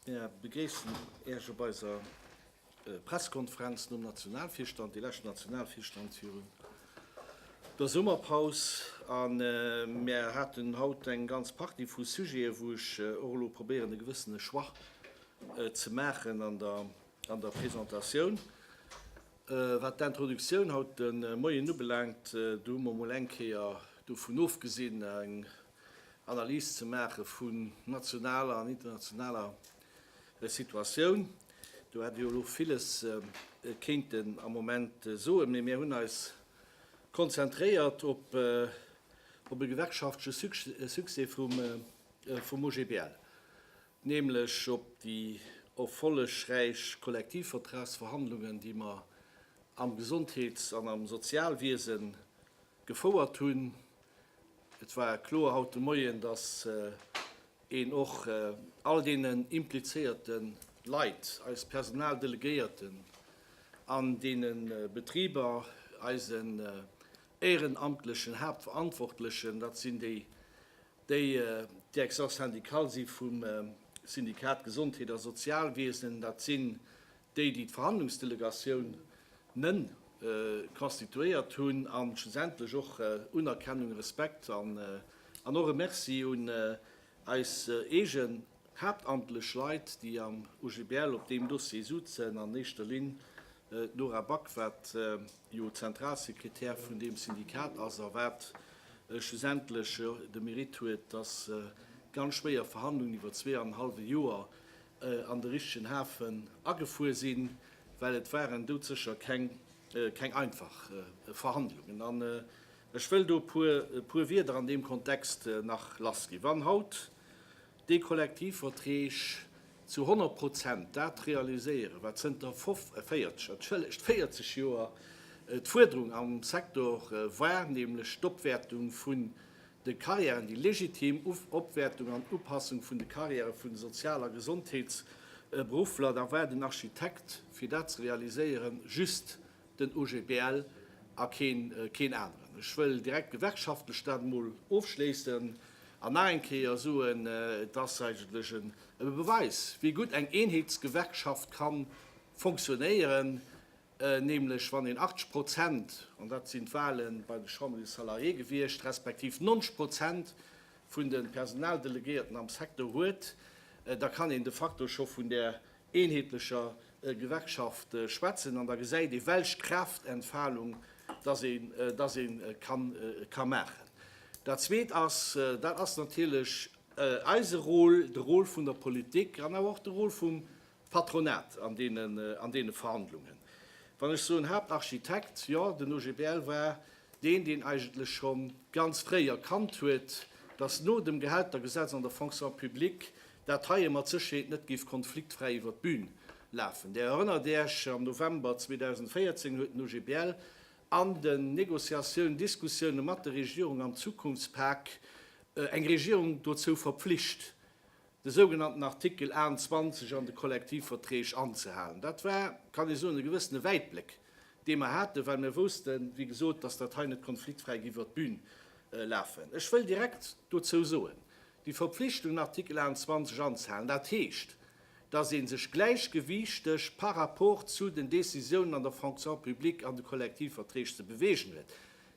Mir begréissen Iech op eiser Presskonferenz nom Nationalvirstand, déi lescht Nationalvirstand virun der Summerpaus. A mir haten haut eng ganz Partie vu Sujete, wou ech och elo probéieren, e gewëssene Choix ze maachen an der An der Presentatioun, wat d'Introductioun haut de Moien ubelaangt, do hu mer emol eng Kéier dovun ofgesinn, eng Analys ze maache vun nationaler an internationaler Situatioun. Do hätt ee jo elo villes kéinten am Moment soen, mee mir hunn eis konzentréiert op e gewerkschaftleche Succès vum OGBL. nämlech op déi erfollegräich Kollektivvertragsverhandlungen, déi mer am Gesondheets an am Sozialwiese gefouert hunn. Et war kloer haut de Moien, dass een och all deenen implizéierte Leit, eis Personaldelegéierten an deene Betriber, eisen éierenamtlechen Haaptverantwortlechen, dat sinn déi Déi Direction syndicale si vum Syndikat Gesondheet a Sozialwiesen, dat sinn déi, déi d'Verhandlungsdelegatioun ne constituéiert hunn, a schlussendlech och Unerkennung, Respekt an och e Merci un eis eege. Haaptamtlech Leit, déi am OGBL op deem Dossier sutzen, an éischter Linn d'Nora Back, wat jo Zentralsekretär vun deem Syndikat ass a wat schlussendlech de Mérite huet, datt ganz schwéier Verhandlungen iwwer zwee an en hallwe Joer an de richtegen Hafen agefuer sinn, well et waren doudsécher keng einfach Verhandlungen. An ech wëll do e puer Wieder an deem Kontext nach lassginn. Wann haut. Déi Kollektivverträg zu 100 Prozent dat realiséieren, wat zënter 40, entschëllegt, 40 Joer d'Fuerderung am Secteur war, nämlech d'Opwäertung vun de Carrièren, déi legitim Opwäertung an Upassung vun de Carrièrë vun de Sozial a Gesondheetsberuffler. Da war den Architekt, fir dat ze realiséieren, just den OGBL a keen aneren. Ech wëll direkt gewerkschaftlech dat emol ofschléissen an nach eng Kéier soen, et ass eigentlech e Beweis, wéi gutt eng Eenheetsgewerkschaft ka fonctionnéieren, nämlech wann een 80 Prozent, an dat sinn d'Wahle bei de Chambres des Salariés gewiescht, respektiv 90 Prozent vun de Personaldelegéierten am Secteur huet, da kann een de facto scho vun där eenheetlecher Gewerkschaft schwätzen, an da gesäit ee welch Kraaftentfalung datt ee datt ee ka maachen. Dat Zweet ass, dat ass natierlech eise Rôle, de Rôle vun der Politik an awer och de Rôle vum Patronat an deenen an deene Verhandlungen. Wann ech soen Haaptarchitekt, jo, den OGBL war deen, deen eigentlech scho ganz fréi erkannt huet, datt no dem Gehältergesetz an der Fonction publique dat heie mat Sécherheet net géif konfliktfräi iwwer d'Bün lafen. Där erënnert Iech, am November 2014 huet den OGBL an den Negociatiounen, Diskussioune mat der Regierung am Zukunftspak eng Regierung dozou verpflicht, de sougenannten Artikel 28 an de Kollektivverträg anzehalen. Dat war, kann ee soen, e gewëssene Wäitbléck, dee mer haten, well mir woussten, wéi gesot, datt dat hei net konfliktfräi géif iwwer d'Bün lafen. Ech wëll direkt dozou soen, Déi Verpflichtungen, Artikel 21, anzehalen, dat heescht, dass ee sech gläichgewiichteg par rapport zu den Décisiounen an der Fonction publique an de Kollektivverträg ze beweegen huet.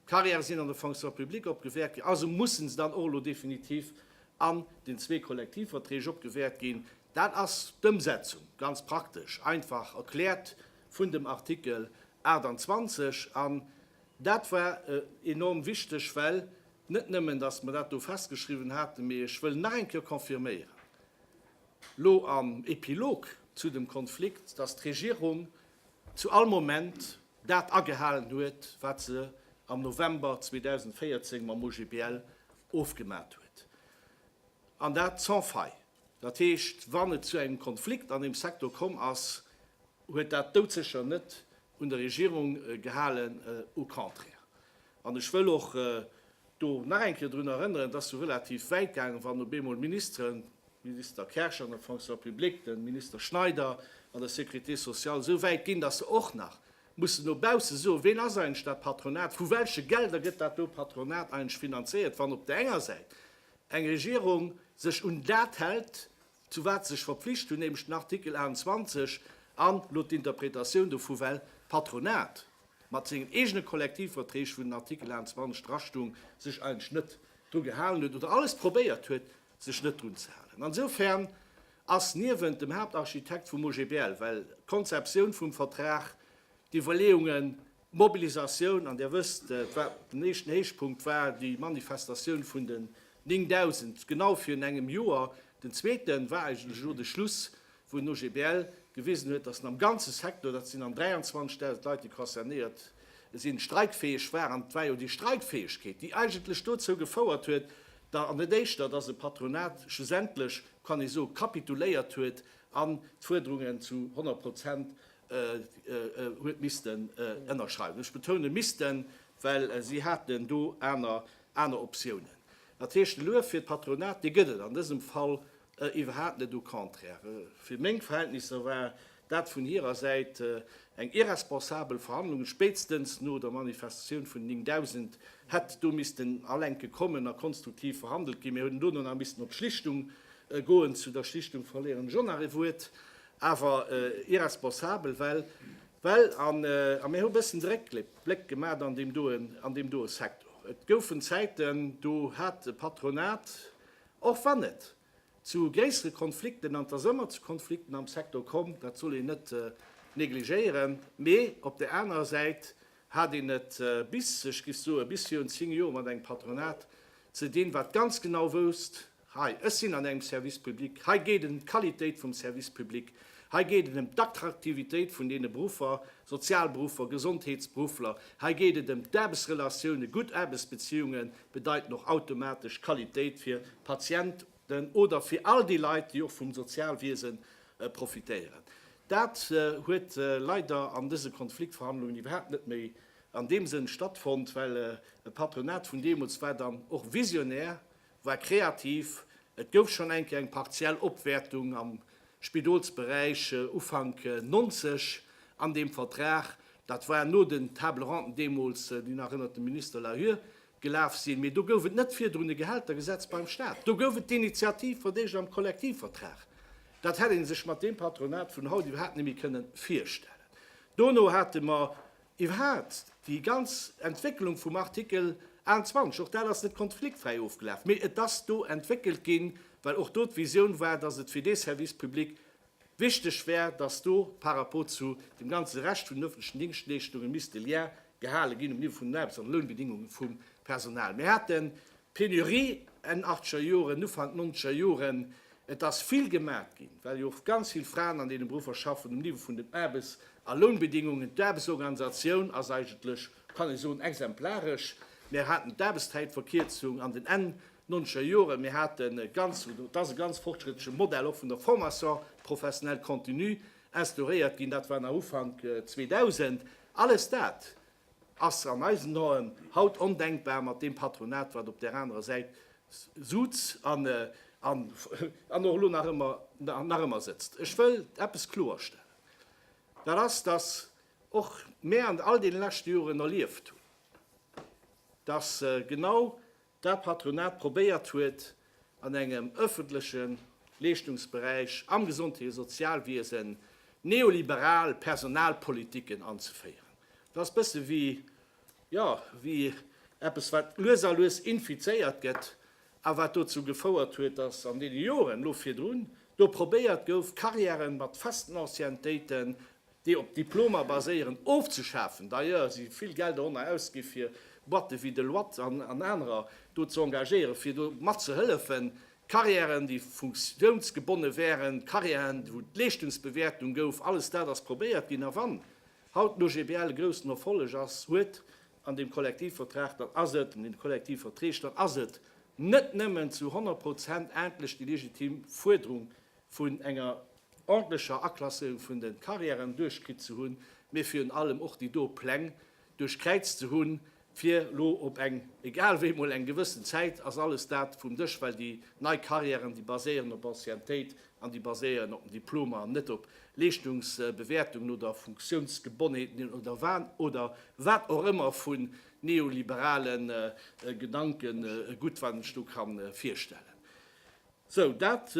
D'Carrièrë sinn an der Fonction publique opgewäert ginn, also mussen se dann och elo definitiv an den zwee Kollektivverträg opgewäert ginn. Dat ass d'Ëmsetzung, ganz praktesch einfach erkläert, vun dem Artikel 28. An dat war enorm wichteg, well Net nëmmen, dass mer dat do festgeschriwwen haten, mee ech wëll nach eng Kéier confirméieren, lo am Epilog zu dem Konflikt, dass d'Regierung zu all Moment dat agehalen huet, wat se am November 2014 mam OGBL ofgemat huet, an dat sans faille. Dat heescht, wann et zu engem Konflikt an deem Secteur komm ass, huet dat doudsécher net un der Regierung gehalen, au contraire. An ech wëll och do nach eng Kéier drun erënneren, et ass jo relativ wäit gaangen, wann op eemol Ministeren, de Minister Kersch an der Fonction publique, de Minister Schneider an der Sécurité sociale, esou wäit ginn, dass se och nach mussen no bausse soen, ween ass eigentlech dat Patronat, vu welche Gelder gëtt dat do Patronat eigentlech finanzéiert, wann op där enger Säit eng Regierung sech un dat hält, zu wat se sech verpflicht hunn, nämlech den Artikel 28 an elo d'Interpretatioun dovu, well d'Patronat mat sengen eegene Kollektivverträg, wou den Artikel 28 drastoung, sech eigentlech net dru gehalen huet oder alles probéiert huet, sech net drun ze halen. Insofern ass niewent dem Haaptarchitekt vum OGBL, well d'Konzeptioun vum Vertrag, d'Iwwerleeungen, Mobilisatioun, an Dir wësst, et war den éischten Héichpunkt war déi Manifestatioun vun den 9.000 genau virun engem Joer. Den zweete war eigentlech elo de Schluss, wou den OGBL gewisen huet, datt en am ganze Secteur, dat sinn an 23.000 Leit, déi concernéiert sinn, streikfäeg war. An et war jo déi Streikfäegkeet, déi eigentlech dozou gefouert huet, da, an net éischter, datt e Patronat schlussendlech, kann ee soen, kapituléiert huet an d'Fuerderungen zu 100 Prozent huet missten ënnerschreiwen. Ech betounen missten, well si haten do aner Optiounen. Dat heescht, de Luef fir d'Patronat, dee gëtt et an dësem Fall iwwerhaapt net, au contraire. Fir meng Verhältnisser war dat vun hirer Säit eng irresponsabel Verhandlung. Spéitstens no der Manifestatioun vun 9000 hätt do missten Alenke kommen a konstruktiv verhandelt ginn. Mir hätten dono nach missten op d'Schlichtung goen. Zu der Schlichtung verléieren ech och nach e Wuert. awer irresponsabel, well well an a mir hu bëssen Dréckbléck Bléck gemat an deem doe an deem doe Sektor. Et goufen Zäiten, do hat e Patronat, och wann et zu gréissere Konflikten an et ass ëmmer zu Konflikten am Sektor komm, dat soll een net negligéieren, mee op där anerer Säit hat een et bis, ech giff soe bis virun 10 Joer mat engem Patronat ze dinn, wat ganz genau wousst, Hei, ech sinn an engem Service public, hei geet et ëm d'Qualitéit vum Service public, hei geet et ëm d'Attraktivitéit vun deene Beruffer, Sozialberuffer, Gesondheetsberuffler, hei geet et ëm d'Aarbechtsrelatiounen. Gutt Aarbechtsbeziunge bedeiten och automatesch Qualitéit fir d'Patienten oder fir all déi Leit, déi och vum Sozialwiese profitéieren. Dat huet leider an dëse Konfliktverhandlungen iwwerhaapt net méi an deem Sënn stattfonnt, well e Patronat vun deemools war dann och visionär War kreativ, et gouf schonn eng Kéier eng partiell Opwäertung am Spidolsberäich Ufank 90 an deem Vertrag. Dat war no den Table ronden deemools, Dir erënnert, dem Minister Layure gelaf sinn. Mee do gouf et net virdrun e Gehältergesetz beim Staat. Do gouf et d'Initiativ vun deeg am Kollektivvertrag. Dat hätt ee sech mat deem Patronat vun haut iwwerhaapt net méi kënnen virstellen. Dono hate mer Iwwerhaat déi ganz Entwécklung vum Artikel 28, och dat ass net konfliktfräi ofgelaf, mee et ass do entwéckelt ginn, well och do d'Visioun war, dass et fir dee Service public wichteg wär, dass do par rapport zu dem ganze Rescht vun den öffentlechen Dingschtleeschtunge misst de Lien gehale ginn um Niveau vun den Aarbechts an Lounbedingungen vum Personal. Mir haten d'Penurie Enn achtzeger Joren, Ufank nonzeger Joren, Et ass vill gemat ginn, well jo och ganz vill Fraen an deene Beruffer schaffen, um Niveau vun den Aarbes a Lounbedingungen. D'Aarbesorganisatioun ass eigentlech, kann ee soen, exemplaresch. Mir haten d'Aarbeszäitverkierzung an den Enn nonzeger Joren. Mir hate ganz, et ass e ganz fortschrëttleche Modell och vun der Formation professionnelle continue instauréiert ginn. Dat war nach Ufank 2000. Alles dat ass an eisen Aen haut ondenkbar mat deem Patronat wat op där anerer Säit sutz an och elo nach ëmmer sëtzt. Ech wëll eppes kloerstellen, dat ass, datt och mär an all deene leschte Joren erlieft hunn, datt genau dat d'Patronat probéiert huet, an engem ëffentleche Leeschtungsberäich, am Gesondheet a Sozialwiesen, neoliberal Personalpolitiken anzeféieren. Et ass e bësse wéi, jo, wéi eppes, wat lues a lues infizéiert gëtt a wat dozou gefouert huet, datt an deene Joren elo virdrun do probéiert gouf, Carrièren mat festen Anciennetéiten déi op Diplomer baséieren, ofzeschafen, d'ailleurs si vill Geld doranner ausgi fir Boîte wéi Deloitte an anerer do ze engagéieren, fir do matzehëllefen, Carrièren, déi funktiounsgebonne wären, Carrièren, wou d'Leeschtungsbewäertung gouf, alles dat ass probéiert ginn. A wann haut d'OGBL e groussen Erfolleg ass, huet an deem Kollektivvertrag, dann ass et, an deene Kollektivverträg, dann ass et net nëmmen zu 100 Prozent endlech déi legitim Fuerderung vun enger ordentlecher Aklasséierung vun de Carrièren duerchkritt ze hunn, mee virun allem och déi do Pläng duerchkräizt ze hunn, fir lo op eng, egal wéi, mol eng gewëssen Zäit ass alles dat vum Dësch, well déi nei Carrièren, déi baséieren op Anciennetéit an déi baséieren op den Diplomer an net op Leeschtungsbewäertungen oder Funktionsgebonheeten oder wa oder wat och ëmmer vu neoliberale Gedankengut, wat een sech do ka virstellen. Sou, dat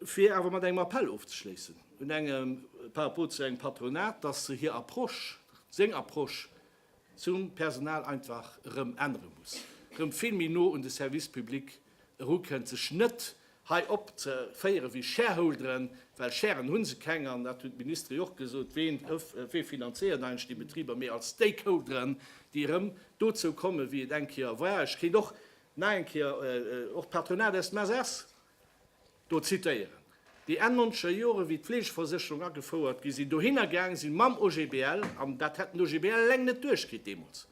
fir awer mat engem Appell ofzeschléissen un enge par rapport zu engem Patronat, dass se hir Approche, seng Approche zum Personal einfach erëm ännere muss, erëm vill méi no un de Service public erukënnt, sech net hei opzeféiere wéi Shareholderen, well Sharen hu se keng an dat hunn d'Ministere jo och gesot, ween, wee finanzéiert eigentlech déi Betriber, mee als Stakeholderen, déi erëm dozou kommen, wéi et eng Kéier war. Ech kéint och Nach eng Kéier och d'Patronat aus dem SS do zitéieren, déi Enn nonzeger Jore wéi d'Fleegeversécherung agefouert gi sinn, dohinner gaange si mam OGBL, an dat hätt den OGBL eleng net duerchkritt deemools,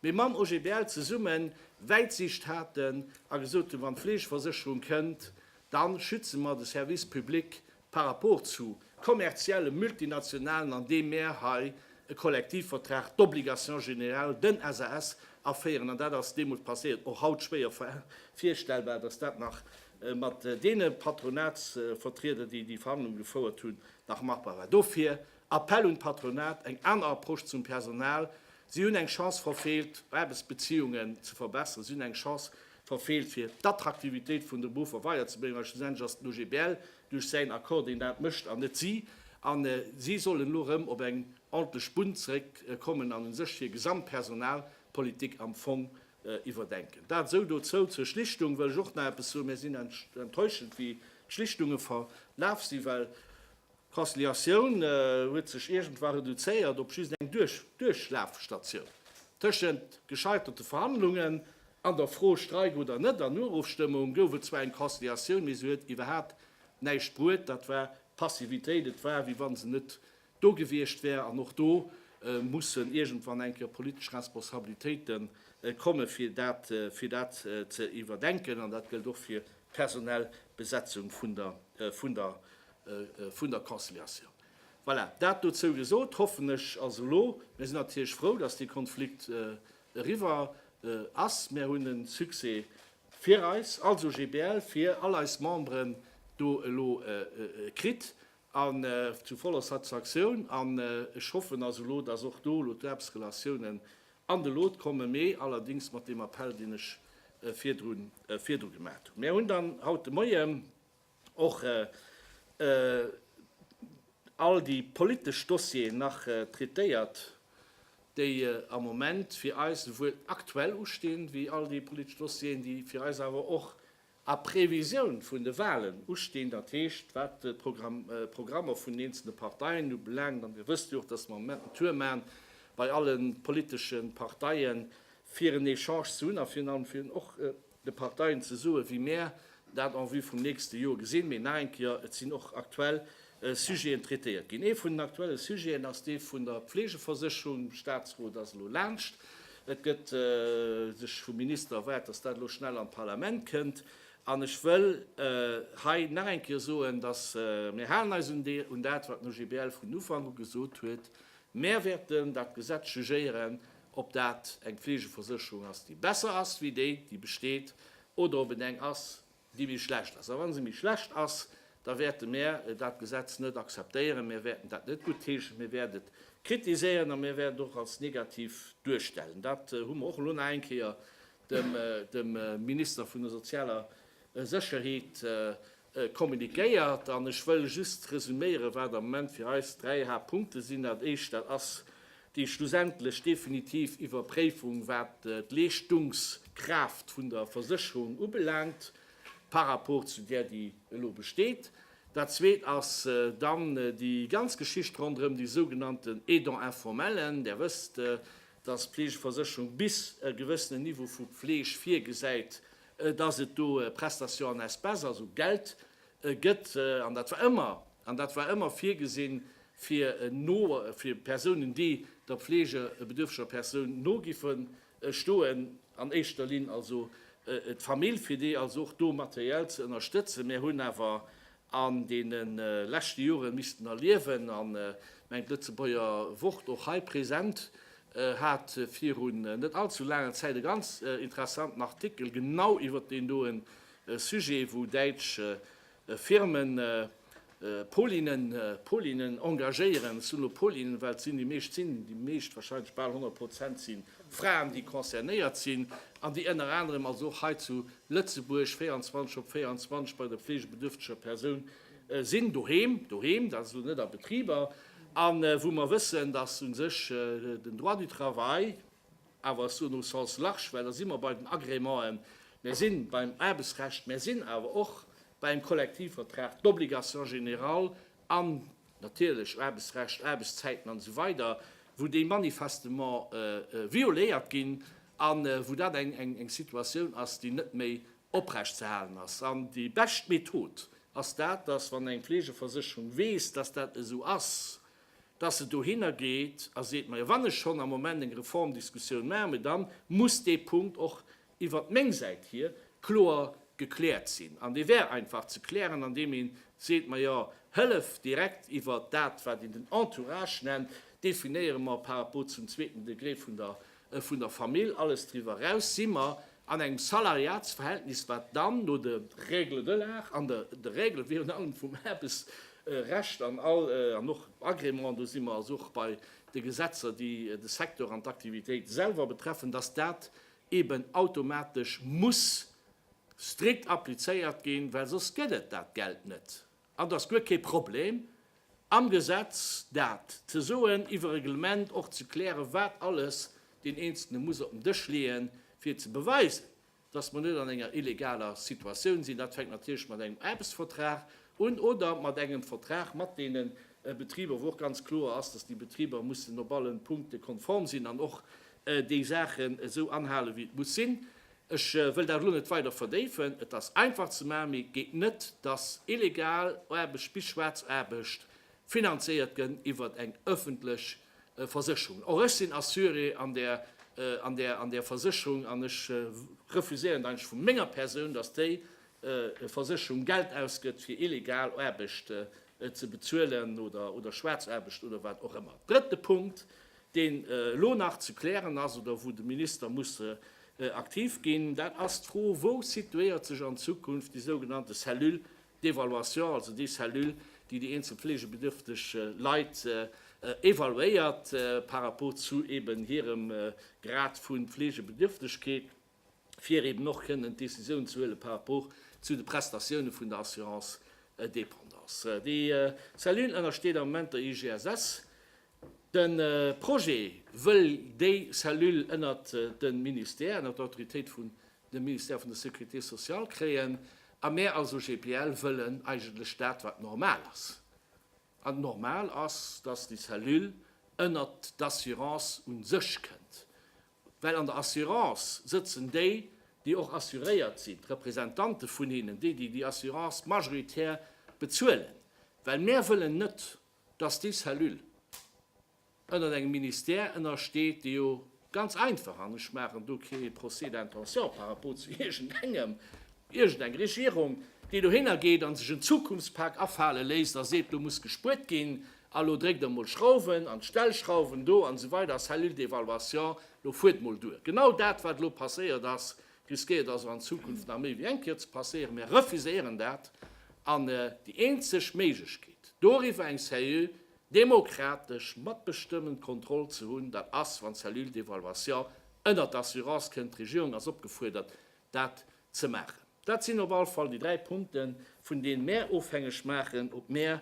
mee mam OGBL zesummen Wäitsicht haten a gesot hunn, wann d'Fleegeversécherung kënnt, da schütze mer de Service public par rapport zu kommerzielle Multinationalen, andeem mär hei e Kollektivvertrag d'obligation générale, den SAS, aféieren, an dat ass deemools passéiert, och haut schwéier virstellbar, dass dat nach mat deene Patronatsvertrieder, déi déi Verhandlungen gefouert hunn, nach machbar war. Dofir Appell un d'Patronat, eng aner Approche zum Personal. Si hunn eng Chance verfeelt, Aarbechtsbeziehungen ze verbessern. Si hunn eng Chance verfeelt fir d'Attraktivitéit vun de Berufer weider ze bréngen, well schlussendlech ass d'OGBL duerch säin Accord deen dat mécht an net si, an si sollen elo erëm op eng ordentlech Bunn zeréck kommen an u sech hir gesamt Personalpolitik am Fong iwwerdenken. Dat esou dozou. Zur Schlichtung wëll ech och nach eppes soen, Mir sinn enttäuschend wéi d'Schlichtunge verlaf si well D'Transliatioun huet sech iergendwa reduzéiert op just eng Duerchlafstatioun tëschent gescheiterte Verhandlungen an der Fro Streik oder net. An Urofstëmmung gouf et zwar eng Transliatioun, mee se huet iwwerhaapt näischt bruet. Dat war Passivitéit. Et war, wéi wann se net do gewiescht wär. An och do mussen iergendwann eng Kéier politesch Responsabilitéite kommen, fir dat fir dat ze iwwerdenken. An dat gëllt och fir d'personell Besetzung vun der vun der Conciliatioun. Voilà, dat dozou gesot. Hoffen ech ass elo, mir sinn natierlech frou, dass dee Konflikt eriwwer ass. Mir hunn e Succès fir eis als OGBL, fir all eis Memberen do elo kritt an zu voller Satisfaktioun. An ech hoffen ass elo, dass och do elo d'Aarbechtsrelatiounen an de Lot kommen, mee allerdéngs mat deem Appell, deen ech virdru gemaat hunn. Mir hunn dann haut de Moie, och all déi politesch Dossieren nach traitéiert, déi am Moment fir eis souwuel aktuell ustinn, wéi all déi politesch Dossieren, déi fir eis awer och a Previsioun vun de Wahlen ustinn, dat heescht, wat d'Programmer vun den eenzelne Parteien ubelaangt. An Dir wësst jo och, dass mer am Moment en Tour maachen bei alle politesche Parteien, fir en Echange ze hunn a virun allem fir och de Parteien ze soen, wéi mär dat en vue vum nächste Jor gesinn. Mee nach eng Kéier, et sinn och aktuell Sujeten traitéiert ginn. Ee vun den aktuelle Sujeten ass dee vun der Pflegeversécherung. De Statsrot ass elo laanscht. Et gëtt sech vum Minister erwaart, dass dat elo schnell an d'Parlament kënnt. An ech wëll hei nach eng Kéier soen, dass mir halen eis un dat, wat den OGBL vun Ufank u gesot huet, Mär wäerten dat Gesetz jugéieren ob dat eng Fleegeversécherung ass, déi besser ass wéi déi, déi besteet, oder ob et eng ass, déi méi schlecht ass. A wa se méi schlecht ass, da wäerte mär dat Gesetz net akzeptéieren, mär wäerten dat net guttheeschen, mir wäerten et kritiséieren a mir wäerten et och als negativ duerstellen. Dat hu mer och elo nach eng Kéier dem Minister vun der sozialer Sécherheet communiquéiert. An ech wëll just resüméieren, wat am Moment fir eis dräi Haaptpunkte sinn. Dat Éischt, dat ass déi schlussendlech definitiv Iwwerpréifung, wat d'Leeschtungskraaft vun der Versécherung ubelaangt par rapport zu där, déi elo besteet. Dat Zweet ass dann déi ganz Geschicht ronderëm déi sougenannten Aidant informellen. Där wësst, dass d'Fleegeversécherung bis e gewëssenen Niveau vu Fleeg virgesäit, dass et do Prestations en espèces, also Geld, gëtt, an dat war ëmmer, an dat war ëmmer virgesinn, fir no, fir Persounen, déi der pflegebedürftiger Persoun no giffen stoen, an éischter Linn also d'Famill, fir déi also och do materiell ze ënnerstëtzen. Mär hunn awer an deene leschte Jore missten erliewen an mengt Lëtzebuerger Wort och hei present hat virun net all zu laanger Zäit e ganz interessanten Artikel genau iwwert deen doe Sujet, wou däitsch Firme Polinen, Polinen engagéieren, ech soen elo Polinen, well et sinn déi meescht, sinn déi meescht, wahrscheinlech bal 100 Prozent si Fraen, déi concernéiert sinn an déi ënner anerem also och hei zu Lëtzebuerg 24 op 24 bei der fleegebedürfteger Persoun sinn, doheem, doheem, dat ass elo net a Betriber, a wou mer wëssen, datt u sech den Droit du travail, awer ech soen au sens large, well da si mer bei den Agrémenten, mir si beim Aarbechtsrecht, mir sinn awer och beim Kollektivvertrag, d'Obligation générale an natierlech Aarbechtsrecht, Aarbechtszäiten an esou weider, wou déi manifestement violéiert ginn a wou dat eng Situatioun ass, déi net méi oprecht ze halen ass. An déi bescht Method ass dat, dass, wann eng Fleegeversécherung weess, dass dat esou ass, dass se dohinner geet a seet, Majo, wann ech schonn am Moment eng Reformdiskussioun maachen, dann muss dee Punkt och iwwert meng Säit hier, kloer gekläert sinn. An dee wär einfach ze klären, andeem ee seet, Majo, Hëllef direkt iwwert dat, wat een den Entourage nennt, definéiere mer par rapport zum zweeten Degré vun der Famill. Alles driwwer eraus si mer an engem Salariatsverhältnis, wat dann no de Règle de l'art an de Règle virun allem vum Aarbechtsrecht an och Agrément, do si mer also och bei de Gesetzer, déi de Secteur an d'Aktivitéit selwer betreffen, dass dat eben automatesch muss strikt applizéiert ginn, well soss gëtt et dat Geld net. An et ass guer kee Problem am Gesetz dat ze soen, iwwer e Reglement och ze klären, wat alles deen Eenzelne muss op den Dësch leeën, fir ze beweisen, dass mer net an enger illegaler Situatioun sinn. Dat fänkt natierlech mat engem Aarbechtsvertrag Un oder mat engem Vertrag mat deene Betriber, wou och ganz kloer ass, dass déi Betriber mussen op alle Punkte konform sinn an och déi Saachen esou anhale wéi et muss sinn. Ech wëll dat elo net weider verdéifen. Et ass einfach ze maachen, mee geet net, dass illegal Aarbecht bis schwaarz Aarbecht finanzéiert gëtt iwwert eng öffentlech Versécherung. Och ech sinn Assuré an där an där an där Versécherung an ech refuséieren eigentlech vu menger Persoun, dass déi Versécherung Geld ausgëtt fir illegal Aarbecht ze bezuelen oder Schwaarzaarbecht oder wat och ëmmer. Drëtte Punkt, deen elo nach ze klären ass oder wou de Minister muss aktiv ginn, dat ass d'Fro, Wou situéiert sech an Zukunft déi sougenannte Cellule d'évaluation, also déi Cellule, déi déi eenzel fleegebedürfteg Leit evaluéiert par rapport zu eeben hirem Grad vu Fleegebedürftegkeet? fir eben och kënnen d'Decisioun ze huele par rapport zu de Prestatioune vun der Assurance dépendance. Déi Cellule ënnersteet am Moment der IGSS. De Projet wëll déi Cellule ënnert de Ministère, ënnert Autoritéit vun dem Ministère vun der Sécurité sociale kréien a mär als OGBL wëllen eigentlech dat, wat normal ass. An normal ass, dass déi Cellule ënnert d'Assurance u sech kënnt. Well an der Assurance sëtzen déi, déi och assuréiert sinn, d'Representante vun hinnen, déi, déi déi Assurance majoritär bezuelen. Well mär wëllen net, dass déi Cellule ënnert engem Ministère ënnersteet, dee jo ganz einfach, an ech maachen do kee Procès d'intention par rapport zu iergendengem, iergendeng Regierung, déi dohinner geet a sech en Zukunftspak afale léisst a seet, do muss gespuert ginn, A lo dréckt emol Schrauwen an d'Stellschrauwen do an esou weider, Cellule d'évaluation, lo fuert emol duer. Genau dat, wat elo passéiert ass, risquéiert also an Zukunft nach méi wéi eng Kéier ze passéieren. Mir refuséieren dat an déi eenzeg Méiglechkeet, doriwwer eng seriö, demokratesch, matbestëmmend Kontroll ze hunn, dat ass, wann d'Cellule d'évaluation ënnert d'Assurance kënnt. D'Regierung ass opgefuerdert, dat ze maachen. Dat sinn op alle Fall déi dräi Punkten, vun deene mär ofhängeg maachen, ob mär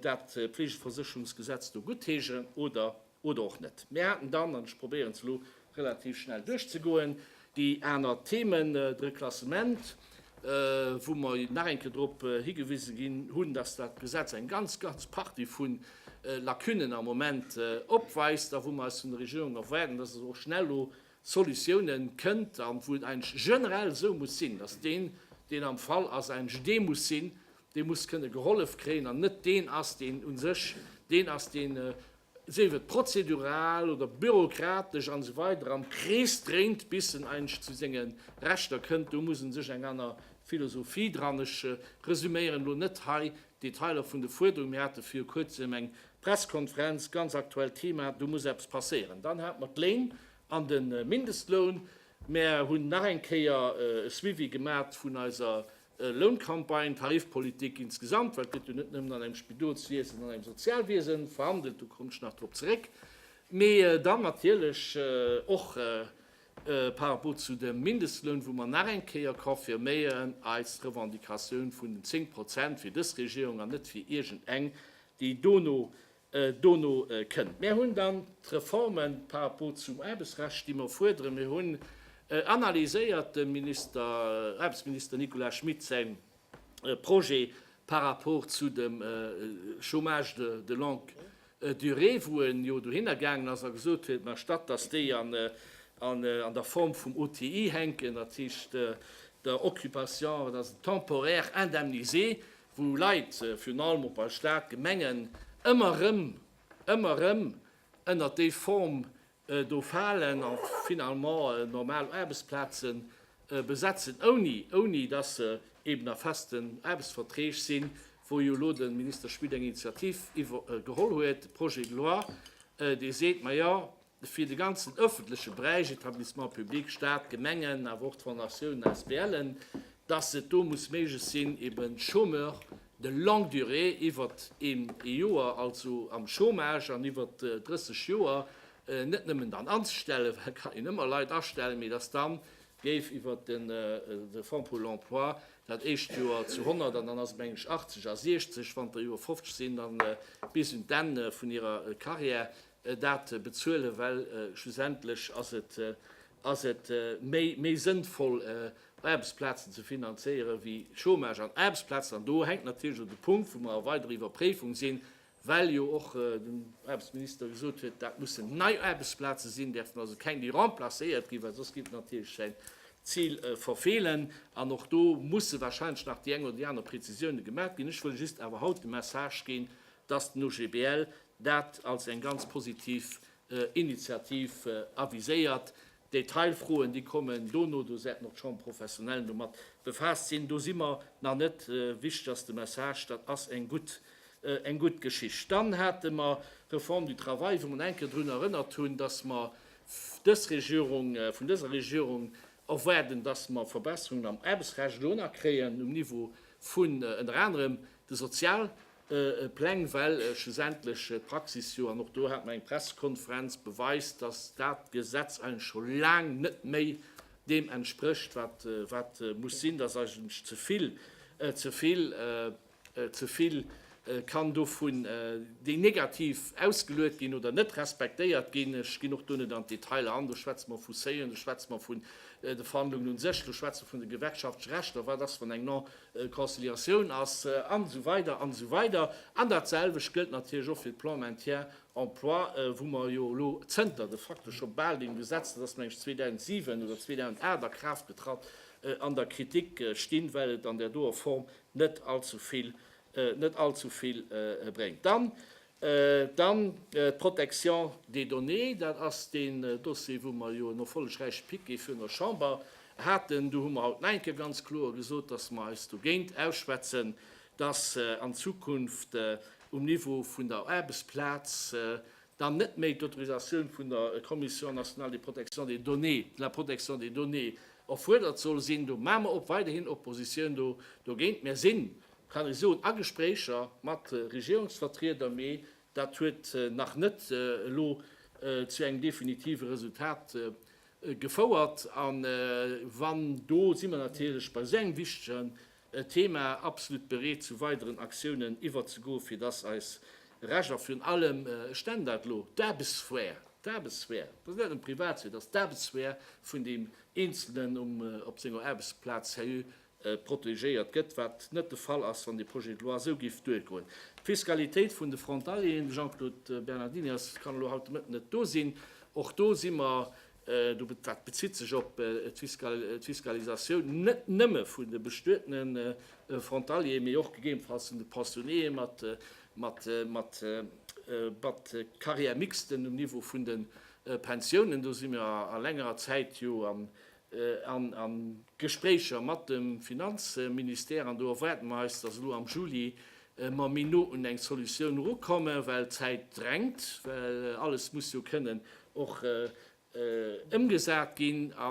dat Fleegeversécherungsgesetz do guttheeschen oder och net. Mir haten dann, an ech probéieren se elo relativ schnell duerchzegoen, déi aner Themen, d'Reklassement, wou mer nach eng Kéier drop higewise ginn hunn, dass dat Gesetz eng ganz, ganz Partie vu Lacunen am Moment opweist a wou mer eis vun der Regierung erwaarden, dass se och schnell elo Solutiounen kënnt an wou et eigentlech generell esou muss sinn, dass deen, deen am Fall ass, eigentlech dee muss sinn, dee muss kënne gehollef kréien an net deen ass, deen u sech deen ass, deen, sief et prozedural oder bürokratesch an esou weider, am Krees dréint, bis en eigentlech zu senge Rechter kënnt. Do muss e sech eng aner Philosophie dran, ech resuméieren elo net hei Detailer vun de Fuerderungen, mir hate viru kuerzem eng Presskonferenz, ganz aktuellt Thema, do muss eppes passéieren. Dann hate mer d'Léin an de Mindestloun. Mer hunn nach eng Kéier e Suivi gemat vun eiser Louncampagne, Tarifpolitik insgesamt, well et gëtt jo net nëmmen an engem Spidolswiesen, an engem Sozialwiese verhandelt, do komme ech nach drop zeréck, mee dann natierlech och par rapport zu dem Mindestloun, wou mer nach eng Kéier confirméieren, eis Revendicatioun vun den 10 Prozent fir dës Regierung an net fir iergend eng, déi dono, dono kënnt. Mir hunn dann d'Reforme par rapport zum Aarbechtsrecht, déi mer fuerderen. Mir hunn analyséiert dem Minister, Aarbechtsminister Nicolas Schmit säi Projet par rapport zu dem Chômage de longue Durée, wou en jo dohinner gaangen ass a gesot huet, mä statt datt déi an der Form vum OTI hänken, dat heescht der Occupation, wat ass et, temporaire indemnisé, wou Leit, virun allem och bei Stat, Gemengen, ëmmer erëm, ëmmer erëm ënnert déi Form Do falen a finalement normal Aarbechtsplaze besetzen, ouni dass se eben a festen Aarbechtsverträg sinn, wou jo elo de Minister Schmit eng Initiativ geholl huet, e Projet de loi, dee seet, Majo, fir de ganzen öffentleche Beräich, Établissements publics, Stat, Gemengen, awer och d'Fondatiounen, ASBLen, dass et do muss méiglech sinn, eben Chômeurs de longue durée, iwwert een ee Joer also am Chômage an iwwert 30 Joer net nëmmen dann anzestellen, well et kann een ëmmer Leit astellen, mee dass dann géif iwwert de Fonds pour l'emploi dat éischt Joer zu 100 an dann ass et meng ech 80 a 60, wann der Joer 50 sinn, da bis un d'Enn vun hirer Carrière dat bezuelen, well schlussendlech ass et méi sënnvoll Aarbechtsplazen ze finanzéieren wéi Chômage an Aarbechtsplazen. An do hänkt natierlech och de Punkt, wou mer a weider Iwwerpréifung sinn, well jo och den Aarbechtsminister gesot huet, dat mussen nei Aarbechtsplaze sinn, däerfen also keng déi remplacéiert ginn, well soss géif en natierlech säin Zil verfeelen. An och do musse wahrscheinlech nach déi eng oder déi aner Präzisiounen gemat ginn. Ech wëll just awer haut de Message ginn, dass den OGBL dat als eng ganz positiv Initiativ aviséiert. D'Detailfroen, déi kommen dono, do säiten och d'Chambres professionnelles domat befaasst sinn. Do si mer nach net. Wichteg ass de Message, dat ass eng gutt, eng gutt Geschicht. Dann hate mer d'Reforme du travail, wou mer nach eng Kéier drun erënnert hunn, dass mer dës Regierung, vun dëser Regierung erwaarden, dass mer Verbesserungen am Aarbechtsrecht elo nach kréien, um Niveau vun ënner anerem de Sozialpartner. Pläng, well schlussendlech d'Praxis jo, an och do hat mer eng Pressekonferenz, beweist, dass dat Gesetz eigentlech scho laang net méi deem entsprécht, wat muss sinn, dass eigentlech ze vill, ze vill, ze vill kann dovun déi negativ ausgeluet ginn oder net respektéiert ginn. Ech ginn och do net an d'Detailer an, do schwätze mer vu Seuilen, do schwätze mer vun de Verhandlungen u sech, do schwätze mer vun de gewerkschaftleche Rechter, wat ass, wann eng Conciliatioun ass, an esou weider an esou weider. An datselwecht gëllt natierlech och fir de Plan maintien emploi, wou mer jo elo zënter de facto scho bal deem Gesetz, dat ass meng ech 2007 oder 2008 a Kraaft getratt, an der Kritik stinn, well et an där doer Form net allzu vill bréngt. Dann Dann d'Protection des données, dat ass deen Dossier, wou mer jo en erfollegräiche Piquet virun der Chamber haten. Do hu mer haut den Enke ganz kloer gesot, dass mer eis dogéint ausschwätzen, dass an Zukunft um Niveau vun der Aarbechtsplaz dann net méi d'Autorisatioun vun der Commission nationale de protection des données, de la protection des données erfuerdert soll sinn. Do maache mer op weiderhin Oppositioun dogéint. Mir sinn kann ech soen, a Gespréicher mat Regierungsvertrieder, mee dat huet nach net elo zu engem definitive Resultat gefouert. A wann, do si mer natierlech bei esou engem wichtegen Thema absolut bereet, zu weideren Aktiounen iwwerzegoen, fir dass eis Recht a virun allem, ech nennen dat elo, d'Aarbechtssphär, d'Aarbechtssphär, dat ass net nëmme Privatsphär, dat ass d'Aarbechtssphär vun deem Eenzelnen op senger Aarbechtsplaz, seriö protegéiert gëtt, wat net de Fall ass, wann dee Projet de loi esou géif duergoen. D'Fiskalitéit vun de Frontalieren, de Jean-Claude Bernardini ass, kann elo haut de Mëtten net do sinn, och do si mer, dat bezitt sech op d'Fiskalisatioun net nëmme vun de bestuetene Frontalieren, mee och gegebenfalls vun de Pensionnéeë mat Carrière mixte um Niveau vun de Pensiounen, do si mer a längerer Zäit jo an Gespréicher mat dem Finanzministère an do erwaarde mer eis, dass elo am Juli mer méi no un eng Solutioun erukommen, well d'Zäit drängt, well alles muss jo kënnen och ëmgesat ginn. A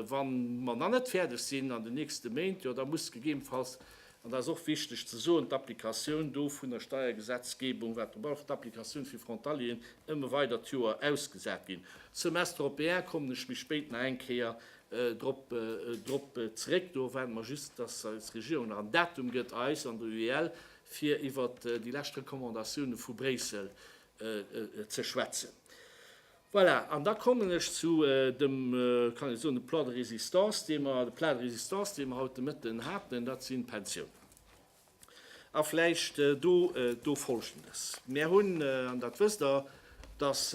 wa mer nach net fäerdeg sinn an den nächste Méint, jo da muss gegebenfalls An dat ass och wichteg ze soen, d'Applikatioun do vun der Steiergesetzgebung, wat drop aluecht, d'Applikatioun fir Frontalieren, ëmme weider d'Joer ausgesat ginn. Semestre européen kommen ech méi spéit nach eng Kéier drop zréck. Do erwaarde mer just, dass eis Regierung nach en Datum gëtt, eis an der UEL, fir iwwert déi lescht Recommandatioune vu Bréissel ze schwätzen. Voilà, an da kommen ech zu dem, kann ech soen, de Plat de résistance, dee mer, de Plat de résistance, dee mer haut de Mëtten haten, dat sinn d'Pensiounen. A vläicht do, do Folgendes, Mär hunn, an dat wësst Der, dass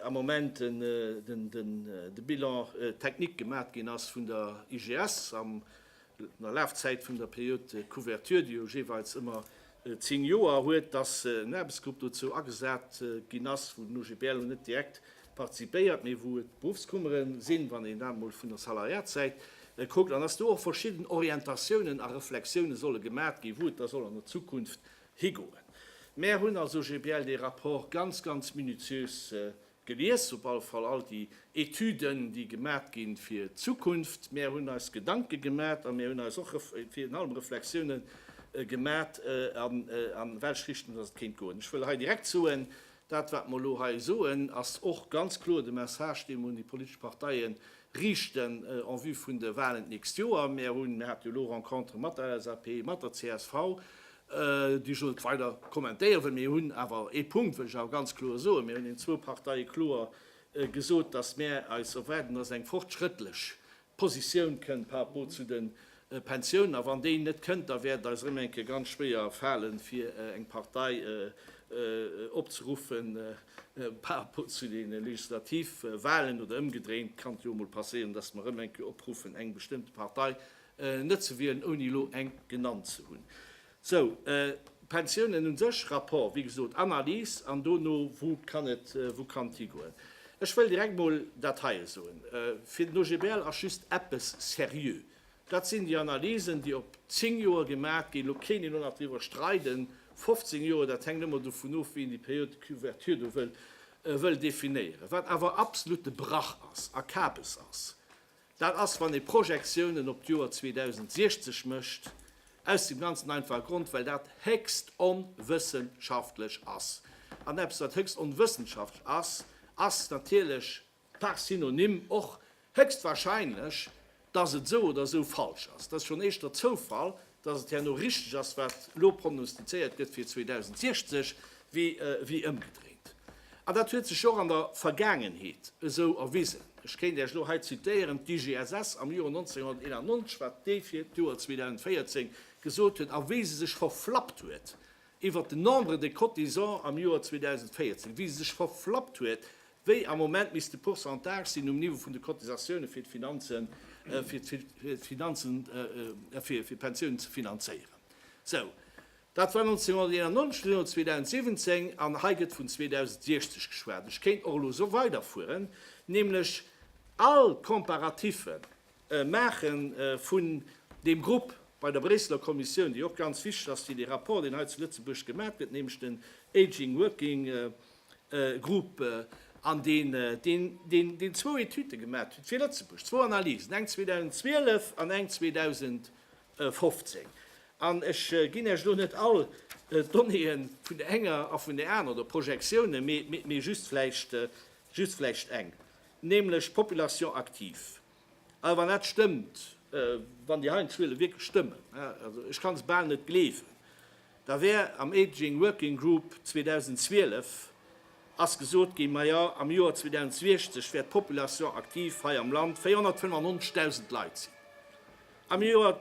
am Moment den, den, de Bilan technique gemat ginn ass vun der IGS am der Lafzäit vun der Période de couverture, déi jo jeeweils ëmmer zéng Joer huet, dass en Aarbechtsgrupp dozou agesat ginn ass, wou den OGBL lo net direkt partizipéiert, mee wou et d'Beruffskummere sinn, wann een dat emol vun der Salariatssäit kuckt, an dass do och verschidden Orientatiounen a Reflexioune solle gemat ginn, wou et da soll an der Zukunft higoen. Mär hunn als OGBL dee Rapport ganz, ganz minutiös Gelies op all Fall all déi Etüden, déi gemat ginn fir d'Zukunft. Mär hunn eis Gedanke gemat a mär hunn eis och virun allem Reflexiounen gemat, an welch Richtung dass et kéint goen. Ech wëll hei direkt soen, dat wat mer elo hei soen, ass och ganz kloer de Message, dee mer un déi politesch Parteien riichten en vue vun de Walen d'nächst Joer. Mär hunn, mär hate jo elo Rencontere mat der LSAP, mat der csv, déi ech elo net weider kommentéiere wëll. Mir hunn awer ee Punkt, wëll ech awer ganz kloer soen, Mir hunn den zwou Parteie kloer gesot, dass mär eis erwaarden, dass eng fortschrëttlech Positioun kënnt par rapport zu de Pensioun, a wann déi net kënnt, da wäert et eis erëm eng Kéier ganz schwéier falen, fir eng Partei opzeruffen par rapport zu de Legislativwahlen, oder ëmgedréint kann et jo emol passéieren, dass mer erëm eng Kéier opruffen, eng bestëmmte Partei net ze wielen, ouni elo eng genannt ze hunn. Sou, Pensiounen u sech, Rapport, wéi gesot, Analys an dono, wou kann et, wou kann et higoen? Ech wëll direkt mol dat heie soen, Fir den OGBL ass just eppes seriö, dat sinn déi Analysen, déi op zéng Joer gemaach ginn, elo kéint een och nach driwwer streiden, 15 Joer, dat hänkt ëmmer dovun of, wéi een déi Période de couverture do wëll definéieren. Wat awer absolutte Brach ass a Kabes ass, Dat ass, wann ee Projektiounen op d'Joer 2060 mécht, aus dem ganzen einfache Grond, well dat héchst onwëssenschaftlech ass. An eppes, wat héchst onwëssenschaftlech ass, ass natierlech par synonyme och héchstwahrscheinlech, dass et esou oder esou falsch ass. Dat ass schonn éischter Zoufall, dass et herno richteg ass, wat elo prognostizéiert gëtt fir 2060, wéi ëmgedréint. An dat huet sech jo och an der Vergaangenheet esou erwisen. Ech kéint Iech elo hei zitéieren, d'IGSS am Joer 1991, wat déi fir d'Joer 2014 gesot huet a wéi se sech verflappt huet, iwwert den Nombre de cotisants am Joer 2014, wéi se sech verflappt huet, wéi am Moment misst de Pourcentage sinn um Niveau vun de Cotisatiounen, fir d'Finanzen, fir d'Finanzen, fir d'Pensiounen ze finanzéieren. Sou, dat war 1991, elo 2017, an hei gëtt vun 2060 geschwat. Ech kéint och elo esou weiderfueren, nämlech all Comparatiffe Maache vun deem Grupp bei der Bréisseler Kommissioun, déi och ganz wichteg ass fir dee Rapport, deen hei zu Lëtzebuerg gemat gëtt, nämlech den Aging Working Group, an deen zwou Etüde gemat huet fir Lëtzebuerg, zwou Analysen, eng 2012 an eng 2015. An ech ginn Iech elo net all d'Donnéeë vun der enger a vun där anerer, oder Projektiounen, mee just vläicht eng. nämlech d'Population active. A wann dat stëmmt, wann déi Heianschuele wierklech stëmmen, also ech kann se bal net gleewen, da wär am Aging Working Group 2012 ass gesot ginn, majo am Joer 2060 wäert d'Population active hei am Land 495.000 Leit sinn. Am Joer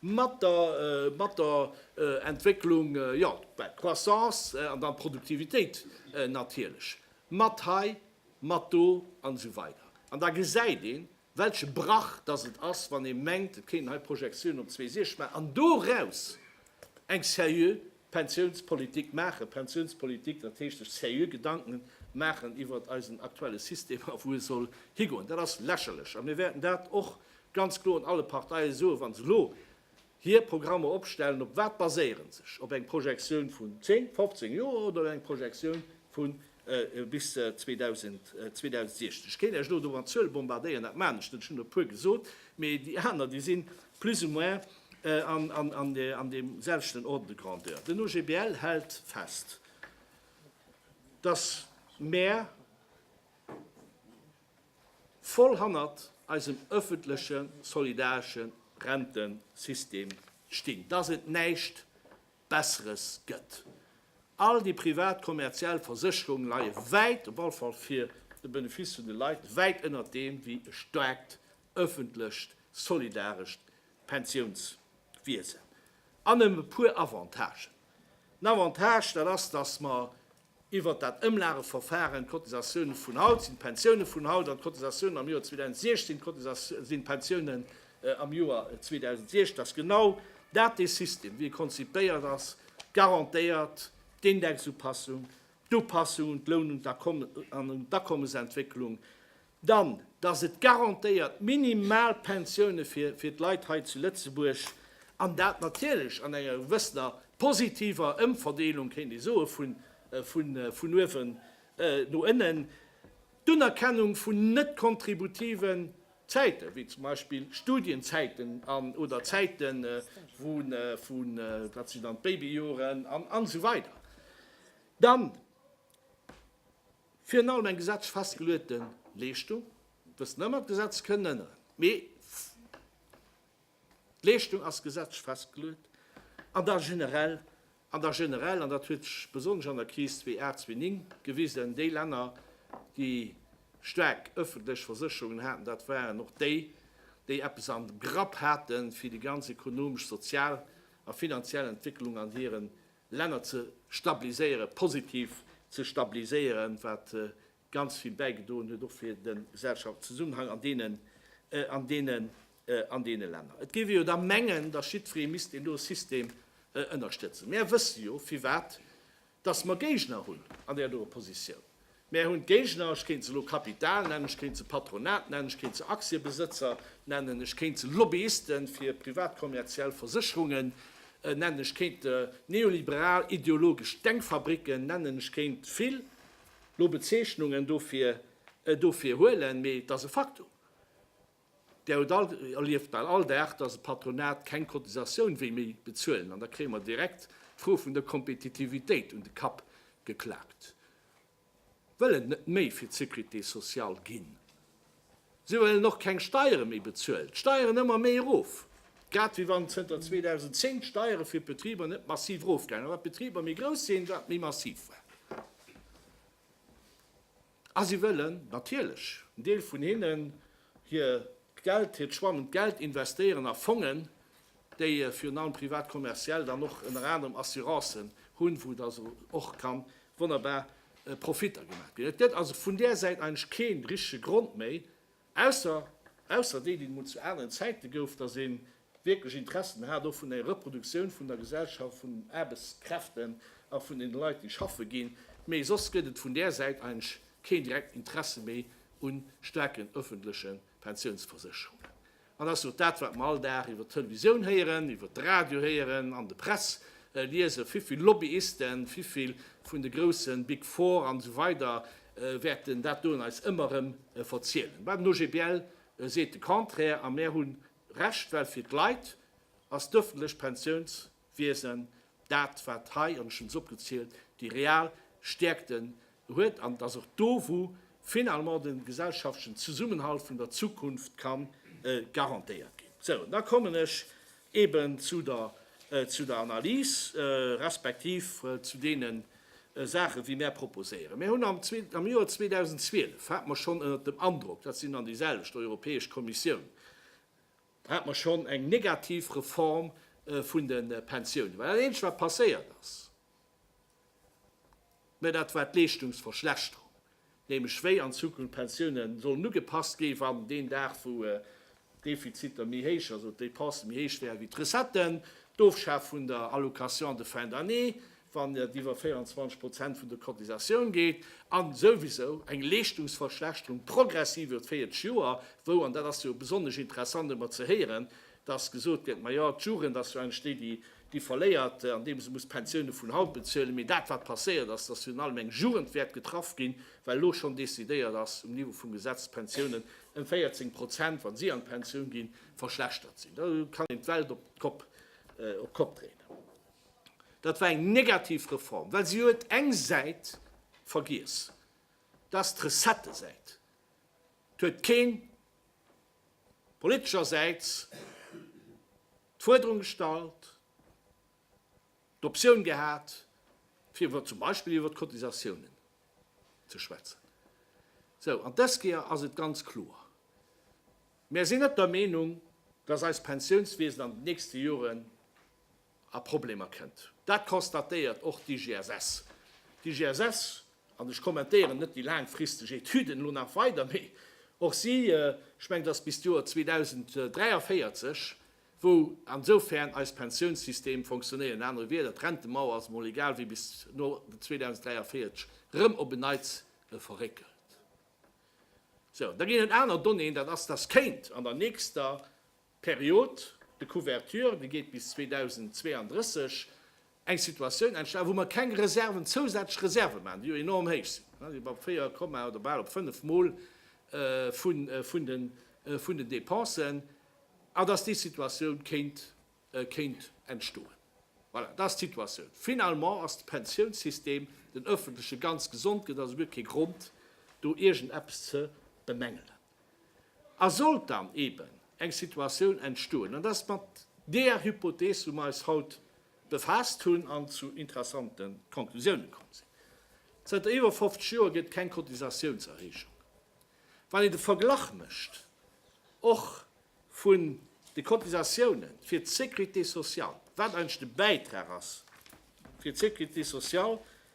mat der mat der Entwécklung, jo, well d'Croissance an dann d'Produktivitéit natierlech mat hei, mat do an esou weider. An da gesäit een, welche Brach dass et ass, wann ee mengt, et kéinten hei Projektiounen op 2060 maachen an doraus eng seriö Pensiounspolitik maachen, Pensiounspolitik, dat heescht sech seriö Gedanke maachen iwwert eisen aktuelle System a wou e soll higoen. Dat ass lächerlech a mir wäerten dat och Ganz kloer un alle Parteie soen, wa se elo hir Programmer opstellen, op wat baséiere se sech? Op eng Projektioun vun 10, 15 Joer oder op eng Projektioun vu bis 2016? Ech kéint Iech elo do mat Zuele bombardéieren, dat maachen ech net, ech hunn der e puer gesot, mee déi aner déi si plus ou moins an deem selwechten Ordre de grandeur. Den OGBL hält fest, datt mer, voll hannert eisem öffentleche solidaresche Rentensystem stinn, dass et näischt Besseres gëtt. All déi privat kommerziell Versécherungen leie wäit, op alle Fall fir de Benefice vun de Leit, wäit ënnert deem, wéi e staarkt öffentlecht solidarescht Pensiounswiesen. An e puer Avantagen. En Avantage, dat ass, dass mer Iwwert dat Ëmlageverfaren, d'Cotisatiounen vun haut sinn d'Pensiounen vun haut an d'Cotisatiounen am Joer 2016 sinn d'Pensiounen am Joer 2016. Dass genau dat dee System, wéi e konzipéiert ass, garantéiert, d'Indexupassung, d'Upassung un d'Loun an un d'Akommesentwécklung, Dann, dass et garantéiert Minimalpensioune fir d'Leit hei zu Lëtzebuerg, an dat natierlech an enger gewëssener positiver Ëmverdeelung, kéint ee soe vun uewen no ënnen, d'Unerkennung vun net-kontributiven Zäiten, wéi zum Beispill Studienzäiten oder Zäite vu, wat sinn dann d'Babyjoren an esou weider. Dann. Virun allem eng gesetzlech festgeluete Leeschtung, wëssen ëmmer, d'Gesetz kënn ënneren, mee d'Leeschtung ass gesetzlech festgeluet, an da generell, an da generell, an dat huet sech besonnesch an der Kris 2008, 2009 gewisen, déi Länner, déi staark öffentlech Versécherungen haten, dat waren och déi, déi eppes am Grapp haten, fir déi ganz ekonomesch, sozial a finanziell Entwécklung an hiren Länner ze stabiliséieren, positiv ze stabiliséieren, wat ganz vill bäigedoen huet och fir de Gesellschaftszusammenhang an deene Länner. Et géif ee jo da mengen, datt jiddweree misst een do e System ënnerstëtzen. Mär wësse jo, firwat datt mer Géigner hunn an där do Oppositioun. Mär hunn d'Géigner, ech kéint se elo Kapital nennen, ech kéint se Patronat nennen, ech kéint se Aktiebesëtzer nennen, ech kéint se Lobbyiste fir privat kommerziell Versécherungen nennen, ech kéint neoliberal ideologesch Denkfabricken nennen, ech kéint vill lo Bezeechnungen dofir huelen, mee et ass e Faktum. Där huet alt, erlieft bal all Dag, dass d'Patronat keng Cotisatioun wéi méi bezuelen. An da kréie mer direkt d'Fro vun der Kompetitivitéit un de Kapp geklakt. Wëll en net méi fir d'Sécurité sociale ginn. Si wëllen och keng Steiere méi bezuelen. D'Steieren ëmmer méi erof. Grad wéi wann zënter 2010 d'Steiere fir d'Betriber net massiv erofgaange war. Wat d'Betriber méi grouss sinn, wat méi massiv war. A si wëllen natierlech en Deel vun hinnen hir Geld, hiert schwamend Geld investéieren a Fongen, déi virun allem privat kommerziell dann och ënner anerem Assurancen hunn, wou da se och ka wonnerbar Profitter gemaach ginn. Et gëtt also vun där Säit eigentlech kee richtege Grond méi, Ausser, ausser déi, déi et emol zu aneren Zäite gouf, dass ee wierklech Interessen hat och vun enger Reproduktioun vun der Gesellschaft, vun den Aarbechtskräften a vun deene Leit, déi schaffe ginn. Mee soss gëtt et vun där Säit eigentlech keen direkten Interesse méi u staarken öffentleche Pensiounsversécherungen. An dass jo dat, wat mer all Dag iwwert d'Televisioun héieren, iwwert de Radio héieren, an de Press liesen, vivill Lobbyisten, vivill vun de groussen Big Four an esou weider wäerten dat doen eis ëmmer erëm verzielen. Mä den OGBL seet de Contraire a mär hu Recht, well fir d'Leit ass d'ëffentlecht Pensiounswiesen dat, wat hei, an ech hunn se opgezielt, déi real Stäerkte huet an et ass och do, wou finalement de gesellschaftlechen Zesummenhalt vun der Zukunft ka garantéiert ginn. Sou, an da kommen ech Eben zu der, zu der Analys, respektiv zu deene Saache wéi mär proposéieren. Mir hunn am zwee, am Joer 2012 hate mer schonn ënnert dem Androck, dat sinn dann déi selwecht Europäesch Kommissioun, hate mer schonn eng negativ Reform vun de Pensiounen, well dat eenzegt wat passéiert ass, Mä dat war d'Leeschtungsverschlechterung, nämlech wéi an Zukunft d'Pensioune sollen ugepasst gi wann deen Dag, wou d'Defiziter méi héich, also d'Dépensen méi héich wäeren wéi d'Recetten, d'Ofschaf vun der Allocation de fin d'année, wann et iwwer 24 Prozent vun der Cotisatioun geet, a souwisou eng Leeschtungsverschlechterung progressiv iwwer d'véierteg Joer, wou, an dat ass jo besonnesch interessant ëmmer ze héieren, Dass gesot gëtt, majo, d'Jugend ass jo eigentlech déi, déi déi verléiert, andeem se muss d'Pensioune vun haut bezuelen. Mee dat, wat passéiert ass, dass virun allem eng Jugend wäert getraff ginn, well elo schonn decidéiert ass um Niveau vum Gesetz, d'Pensiounen ëm 14 Prozent, wa si an d'Pensioun ginn, verschlechtert sinn. Do kann een d'Welt op d'Kopp, op d'Kopp dréinen. Dat war eng negativ Reform, well si huet eng Säit vergiess, dass d'Recettësäit. Et huet keen politeschersäits d'Fuerderung gestallt, d'Optioun gehat, fir iwwer zum Beispill iwwer d'Cotisatiounen ze schwätzen. Sou, an dës Kéier ass et ganz kloer, Mär sinn net der Meenung, dass eist Pensiounswiesen an den nächste Joren a Problemer kënnt. Dat constatéiert och d'IGSS. D'IGSS, an ech kommentéieren net déi laangfristeg Etüden elo nach weider, mee och si, ech mengen, ass bis d'Joer 2043, wou an esofern eis Pensiounssystem fonctionnéieren, an anere Wieder, d'Rentemauer, ass emol egal wéi, bis no 2043 erëm op en Neits verréckelt. Sou, da ginn et aner Donnéeën, dat ass, dass kéint an der nächster D'Period de couverture, déi geet bis 2032, eng Situatioun entstanen, wou mer keng Reserven, zousätzlech Reserve maachen, déi jo enorm héich sinn, déi sinn bei 4 Komma oder bal op 5 Mol vun den Dépensen, an dass déi Situatioun kéint entstoen. Voilà, dat ass d'Situatioun. Finalement ass de Pensiounssystem, den öffentleche, ganz gesond, gëtt also guer kee Grond, do iergendeppes ze bemängelen. A sollt dann eeben eng Situatioun entstoen, an dat ass mat deeër Hypothees, wou mer eis haut befaasst hunn an zu interessante Conclusiounen komm sinn, zënter iwwer 50 Joer gëtt keng Cotisatiounserhéijung, wann een de Verglach mécht och vun de Cotisatioune fir d'Sécurité sociale, wat eigentlech de Bäitrag ass fir d'Sécurité sociale,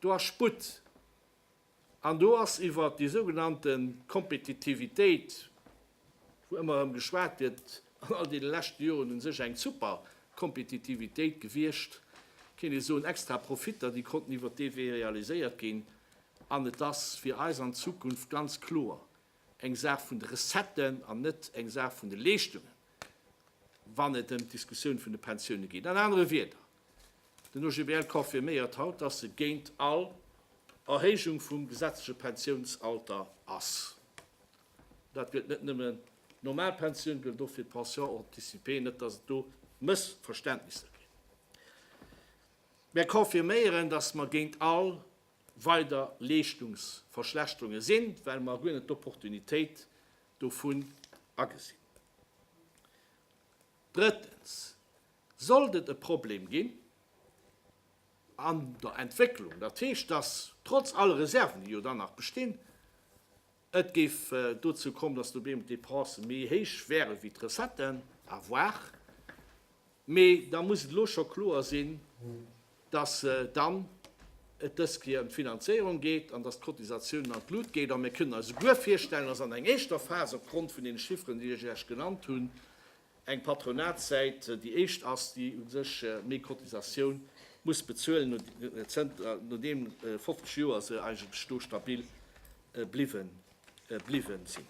do ass Sputt an do ass iwwert déi sougenannte Kompetitivitéit, wou ëmmer erëm geschwat gëtt, an all deene leschte Joren u sech eng super Kompetitivitéit gewiescht, kéint ee soen, extra Profitter, déi konnten iwwert dee Wee realiséiert ginn. An et ass fir eis an Zukunft ganz kloer eng Saach vun de Recetten an net eng Saach vun de Leeschtungen, wann et ëm d'Diskussioun vun de Pensioune geet. An anere Wierder. Den OGBL confirméiert haut, dass e géint all Erhéijung vum gesetzleche Pensiounsalter ass. Dat gëllt net nëmmen d'normal Pensioun, gëllt och fir d'Pension anticipée, net dass et do Mëssverständnisser ginn. Mär confirméieren, dass mer géint all weider Leeschtungsverschlechterunge sinn, well mer guer net d'Opportunitéit dovun agesinn. Drëttens, Sollt et e Problem ginn an der Entwécklung, dat heescht, dass trotz all Reserven, déi jo dann nach bestinn, et géif dozou kommen, dass dobémol d'Dépense méi héich wäre wéi d'Recetten, à voir, mee da muss et elo scho kloer sinn, dass dann et dës Kéier ëm d'Finanzéierung geet an dass d'Cotisatiounen an d'Lut geet. A mir kënnen eis souguer virstellen, dass an eng éischter Phas, opgrond vun deene Chifferen, déi ech Iech genannt hunn, eng Patronatssäit déi éischt ass, déi u sech méi Cotisatioun muss bezuelen, nodeem 50 Joer se eigentlech do stabil bliwwe sinn.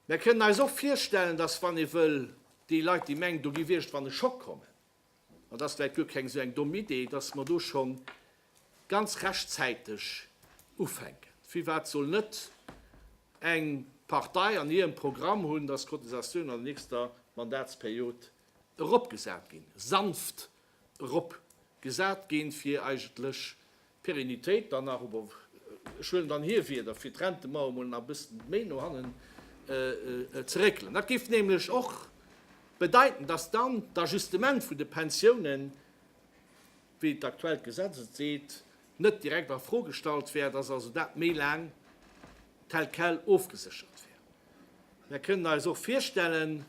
Mir kënnen eis och virstellen, dass, wann ee wëll, déi Leit, déi mengen, do géif iergendwann e Schock kommen, Et ass vläit guer keng esou eng domm Idee, dass mer do scho ganz rechtzäiteg ufänken. Firwat soll net eng Partei an hirem Programm hunn, dass d'Cotisatioun an der nächster Mandatsperiod eropgesat ginn, sanft eropgesat ginn, fir eigentlech Pérennitéit dann nach, ober ech huelen dann hir Wieder, fir d'Rentemauer emol nach e bëssen méi no hannen ze réckelen. Dat géif nämlech och bedeiten, dass dann d'Ajustement vun de Pensiounen, wéi d'aktuellt Gesetz et seet, net direkt a Fro gestallt wär, dass also dat méi laang tel quel ofgeséchert wär. Mir kënnen eis och virstellen,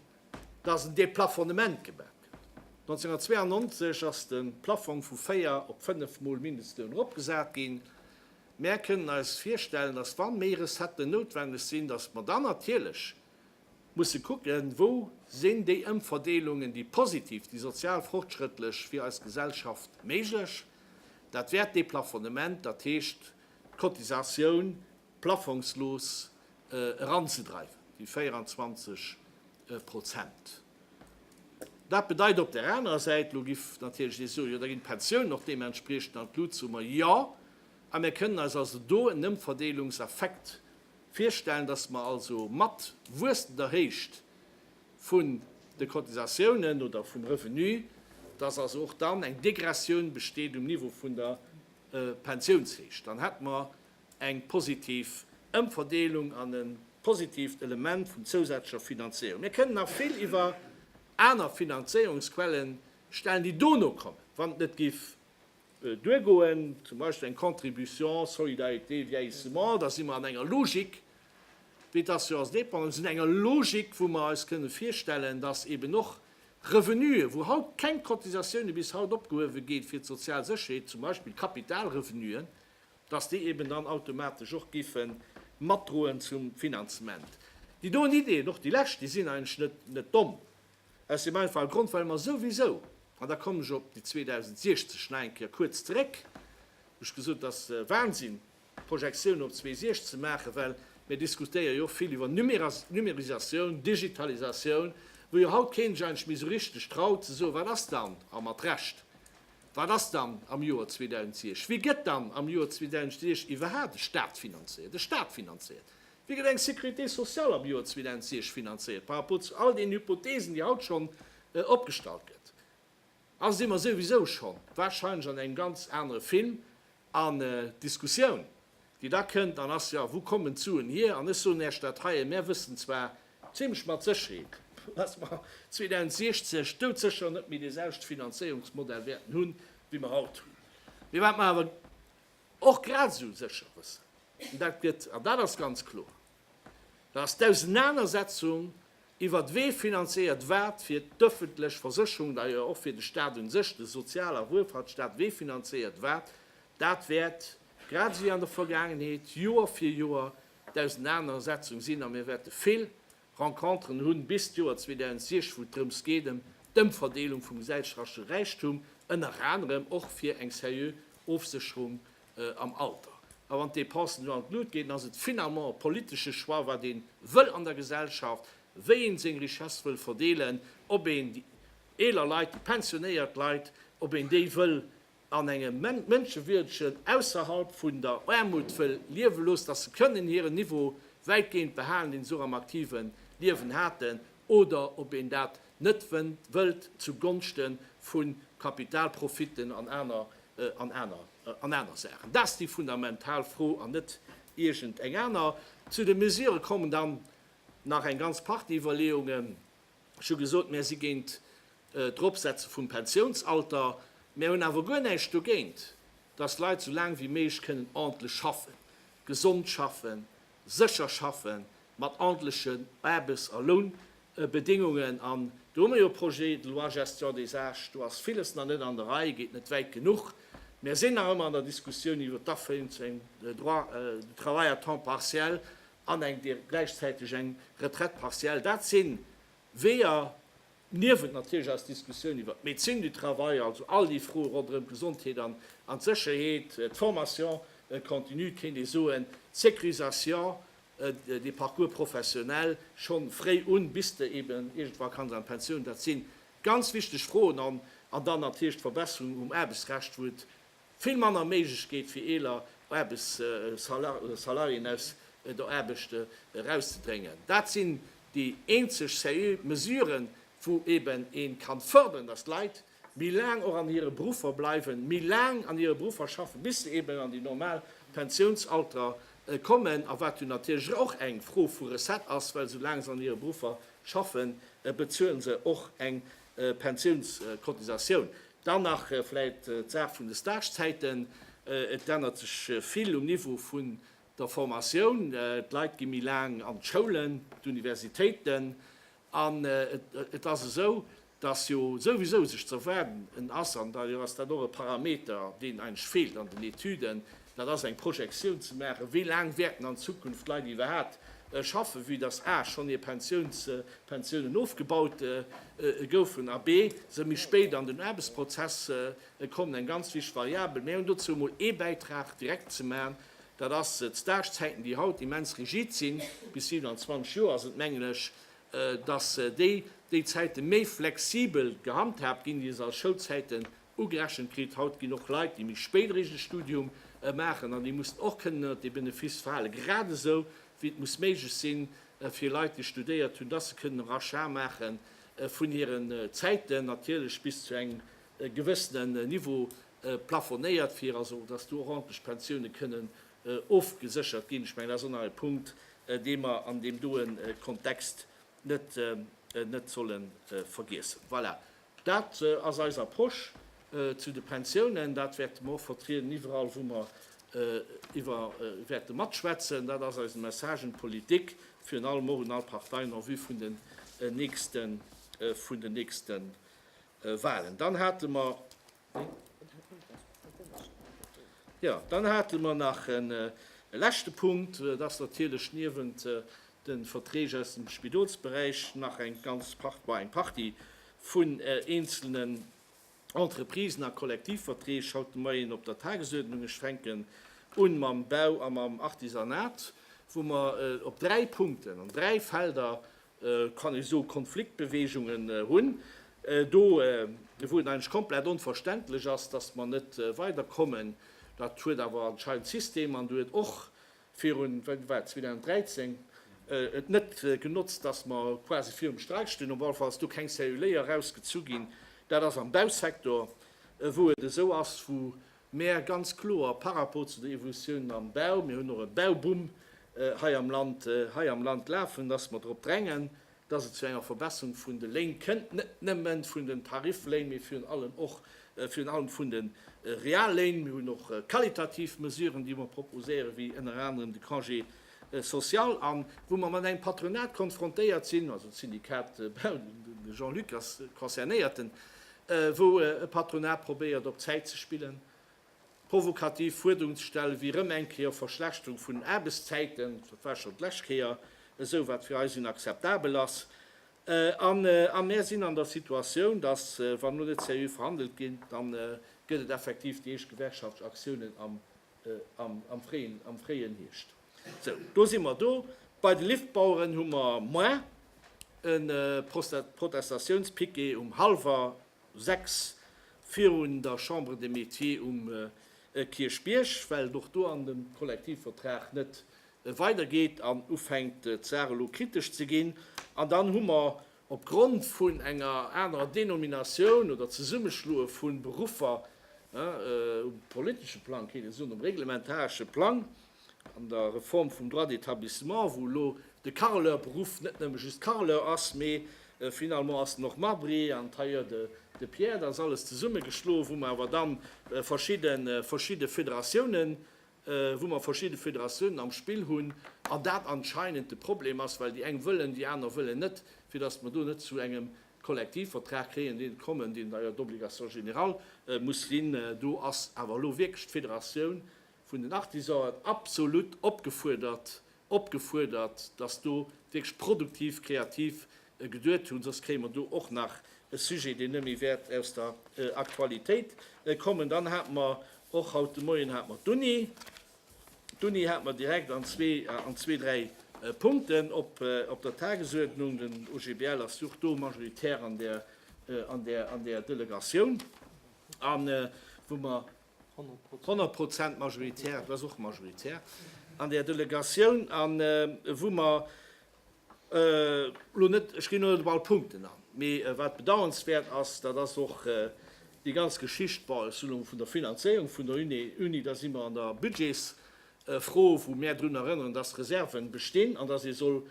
datt en Deplafonnement gemaach huet. 1992 ass de Plafong vu véier op fënnef Mol Mindestloun eropgesat ginn. Mär kënnen eis virstellen, datt wa méi Recetten noutwenneg sinn, datt mer dann natierlech musse kucken, wou sinn déi Ëmverdeelungen, déi positiv, déi sozial fortschrëttlech fir eis Gesellschaft méiglech. Dat wäert d'Deplafonnement, dat heescht d'Cotisatioun, plafongslos eranzedreiwen, déi 24 Prozent. Dat bedeit op där anerer Säit, elo giff natierlech ee soen, jo da ginn d'Pensiounen och deementspriechend an d'Lut soen mer. Jo, a mir kënnen eis also do en Ëmverdeelungseffekt virstellen, datt mer also mat wuessender Héicht vun de Cotisatiounen oder vum Revenu, datt also och dann eng Degressioun besteet um Niveau vun der Pensiounshéicht. Dann hätt mer eng positiv Ëmverdeelung an e positiivt Element vun zousätzlecher Finanzéierung. Mir kënnen nach vill iwwer aner Finanzéierungsquelle stellen, déi dono kommen, wann et net géif duergoen, zum Beispill eng Contribution solidarité vieillissement, da si mer an enger Logik wéi d'Assurance dépendance, mir sinn an enger Logik, wou mer eis kënnen virstellen, dass eeben och Revenuen, wou haut keng Cotisatiounen bis haut opgehuewe ginn fir d'sozial Sécherheet, zum Beispill Kapitalrevenuen, dass déi eben dann automatesch och géife matdroen zum Finanzement. Déi doen Ideeën, och déi lescht, déi sinn eigentlech net domm, aus deem einfache Grond, well mer souwisou, an da kommen ech op déi 2060 nach eng Kéier kuerz zeréck, wou ech gesot hunn, et ass Wahnsinn, Projektiounen op 2060 ze maachen, well mir diskutéiere jo och vill iwwer Numérisatioun, Digitalisatioun, wou jo haut keen sech eigentlech méi esou richteg traut ze soen, wat ass dann, a mat Recht, Wat ass dann am Joer 2006? Wéi gëtt dann am Joer 2006 iwwerhaapt de Stat finanzéiert? De Stat finanzéiert? Wéi gëtt eng Sécurité sociale am Joer 2006 finanzéiert par rapport zu all deenen Hypothesen, déi haut schonn opgestallt gëtt? Also si mer souwisou schonn warscheinlech an engem ganz anere Film an Diskussioun. déi da kënnt an ass, jo, wou kommen d'Suen hier? An ech soen Äech dat heien, Mär wëssen zwar zimlech mat Sécherheet, dass mer 2060 doudsécher net méi deeselwechte Finanzéierungsmodell wäerten hunn, wéi mer haut hunn. Mee wat mer awer och grad esou sécher wëssen, dat gëtt, an dat ass ganz kloer, Da ass d'Ausenanersetzung iwwert wee finanzéiert wat fir d'öffentlech Versécherung, da jo och fir de Stat un sech, de Sozial a Wuelfahrtsstaat, wee finanzéiert wat, dat wäert, grad esou wéi an der Vergaangenheet, Joer fir Joer d'Ausenanersetzung sinn. A mir wäerte vill Renconteren hunn bis d'Joer 2060, wou et drëms geet ëm d'Ëmverdeelung vum gesellschaftsche Räichtum, ënner anerem och fir eng seriö Ofsécherung am Alter. A wann d'Dépensen elo an d'Lut ginn, ass et finalement e politesche Choix, wat ee wëll an der Gesellschaft, wéi ee seng Richesse wëll verdeelen, ob een déi eeler Leit, déi pensionéiert Leit, ob een déi wëll an engem mënschewierdegen, ausserhalb vun der Aarmut wëll liewe loossen, dass se kënnen hiren Niveau wäitgehend behalen, deen se och am aktive Liewen haten, oder ob een dat net wëllt zu Gonschte vu Kapitalprofiten an aner an aner an aner Saachen. Dat ass déi fundamental Fro an net iergend eng aner. Zu de Mesurë kommen dann nach eng ganz Partie Iwwerleeungen. Ech hu gesot, mär si géint d'Eropsetze vum Pensiounsalter. Mär hunn awer guer näischt dogéint, datt d'Leit esou laang wéi méiglech kënnen ordentlech schaffen, gesond schaffen, sécher schaffe mat ordentleche Aarbechts a Lounbedéngungen. An do hu mer jo e Projet de loi Gestion des âges, do ass viles nach net an der Rei, geet net wäit genuch. Mer sinn nach ëmmer an der Diskussioun iwwer d'Aféiung zu engem Droit de travail à temps partiel an eng gläichzäiteg eng Retraite partielle. Dat si Weeër, Niewent natierlech eis Diskussioun iwwert d'Médecine du travail, also all déi Froe ronderëm d'Gesondheet an d'Sécherheet, d'Formation continue, kéint ee soen, d'Sécurisation des parcours professionnels scho fréi un, bis de eben iergendwa kanns an d'Pensioun, dat si ganz wichteg Froen. An dann natierlech d'Verbesserungen um Aarbechtsrecht, wou et Vill manner Méiglechkeet fir eeler Aarbechtssalariéen aus der Aarbecht erauszedrängen. Dat sinn déi eenzeg seriö Mesuren, wou eben een kann fördern, dass d'Leit méi laang och an hire Beruffer bleiwen, méi laang an hire Beruffer schaffen, bis se eben an déi normal Pensiounsalter kommen, a wat jo natierlech och eng Fro vu Recette ass, well sou laang se an hire Beruffer schaffen, bezuelen se och eng Pensiounscotisatioun. Dann nach vläit d'Saach vun de Stagezäiten. Et ännert sech vill um Niveau vun der Formatioun. D'Leit gi méi laang an d'Schoulen, d'Universitéiten. An et ass esou, datt jo souwisou sech ze erwaarden ass, an da jo ass dat och e Parameter, deen eigentlech feelt an den Etüden, Dat ass eng Projektioun ze maachen, wéi laang wäerten an Zukunft d'Leit iwwerhaapt schaffen, vue dass a schonn hir Pensiouns Pensiounen ofgebaut goufen a b se méi spéit an den Aarbechtsprozess kommen. Eng ganz wichteg Variabel. Mir hunn dozou emol ee Bäitrag direkt ze maachen. Dat ass d'Stagezäiten, déi haut immens rigid sinn, bis 27 Joer sinn et, mengen ech, dass déi déi Zäite méi flexibel gehandhaabt ginn, déi se als Schoulzäiten ugerechent kritt. Haut ginn och Leit, déi méi spéit eréischt e Studium maachen an déi mussen och kënnen ënnert dee Benefiss falen, grad esou wéi et muss méiglech sinn fir Leit, déi studéiert hunn, dass se kënnen e Rachat maache vun hiren Zäiten, natierlech bis zu engem gewëssenen Niveau plafonéiert, fir also dass do och ordentlech Pensioune kënnen ofgeséchert ginn. Ech mengen, dat ass och nach e Punkt, dee mer an deem doe Kontext net solle vergiessen. Voilà, Dat ass eis Approche zu de Pensiounen. Dat wäerte mer och vertrieden iwwerall, wou mer iwwer wäerte matschwätzen. Dat ass eise Message un d'Politik, virun allem och un all Parteien en vue vun den nächste Wahlen. Dann hate mer Jo, dann hate mer nach e leschte Punkt. Et ass natierlech niewent de Verträg aus dem Spidolsberäich nach eng ganz Par bah, eng Partie vun eenzelnen Entreprisen a Kollektivverträg haut de Moien op der Tagesuerdnung. Ech fänken u mam Bau a mam Artisanat, wou mer op dräi Punkten, an dräi Felder kann ee soe Konfliktbeweegungen hunn, do wou et eigentlech komplett onverständlech ass, datt mer net weiderkommen. Dat huet awer anscheinend d'System, an du huet och virun, wéi war et, 2013, et net genotzt, datt mer quasi virum Streik stinn. Op alle Fall ass do keng Celluléier erausgezu ginn. Dat ass am Bausektor, wou et esou ass, wou Mä ganz kloer par rapport zu der Evolutiounen am Bau, mir hunn och e Bauboom hei am Land, hei am Land lafen, dass mer drop drängen, dass et zu enger Verbesserung vun de Léin kënnt, net nëmme vun den Tarifléin, mee virun allem och, virun allem vun de Realléin. Mir hunn och qualitativ Mesuren, déi mer proposéieren, wéi ënner anerem de Congé Social an, wou mer mat engem Patronat konfrontéiert sinn, also d'Syndikat Bau, de Jean-Luc ass concernéierten, wou e Patronat probéiert op Zäit ze spillen, provokativ Fuerderungen ze stellen, wéi erëm eng Kéier Verschlechterung vun den Aarbechtszäiten, dat war schonn d'lescht Kéier esou, wat fir eis inakzeptabel ass. A mär sinn an der Situatioun, datt, wann elo net seriö verhandelt gétt, da gëtt et effektiv déi éischt gewerkschaftlech Aktiounen am am fréien Hierscht. Sou, do si mer do. Bei de Liftbaueren hu mer moin e Protestatiounspiquet um hallwer sechs virun der Chambre des Métiers um Kierchbierg, well et och do an dem Kollektivvertrag net weidergeet an ufänkt d'Saach elo kritesch ze ginn. An dann hu mer Op Grond vun enger anerer Denominatioun oder Zesummeschloe vu Beruffer um politesche Plang, kéint ee soen um reglementaresche Plang, an der Reform vum Droit d'établissement, wou elo de Carreleur-Beruff net nëmme just Carreleur ass, mee finalement ass en och Marbrier an Tailleur de pierre, dat ass alles zesummegeschloe wou mer awer dann verschidde Federatiounen wou mer verschidde Federatiounen am Spill hunn an dat anscheinend de Problem ass, well déi eng wëllen, déi aner wëllen net, fir datt mer do net zu engem Kollektivvertrag kréien, deen kommen, deen da jo d'Obligation générale muss sinn. Do ass awer elo wierklech d'Federatioun vun den Artisanen absolut opgefuerdert, opgefuerdert, dass do wierklech produktiv, kreativ geduet hunn, soss kréie mer do och nach e Sujet, deen net méi wäert aus der Aktualitéit kommen. Dann hate mer och haut de Moien hate mer d'Uni. D'Uni hate mer direkt an zwee, an zwee, dräi Punkten op, op der Tagesuerdnung. Den OGBL ass jo och do majoritär an där, an där, an där Delegatioun, a wou mer, 100 Prozent majoritär, do ass och majoritär an där Delegatioun, an wou mer elo net, ech ginn elo net op all Punkten an, mee wat bedauernswäert ass, dat ass och déi ganz Geschicht, bon, ech soen elo vun der Finanzéierung vun der Uni, da si mer an der Budgetsfro, wou mär drun erënneren, dass Reserven bestinn an dass ee soll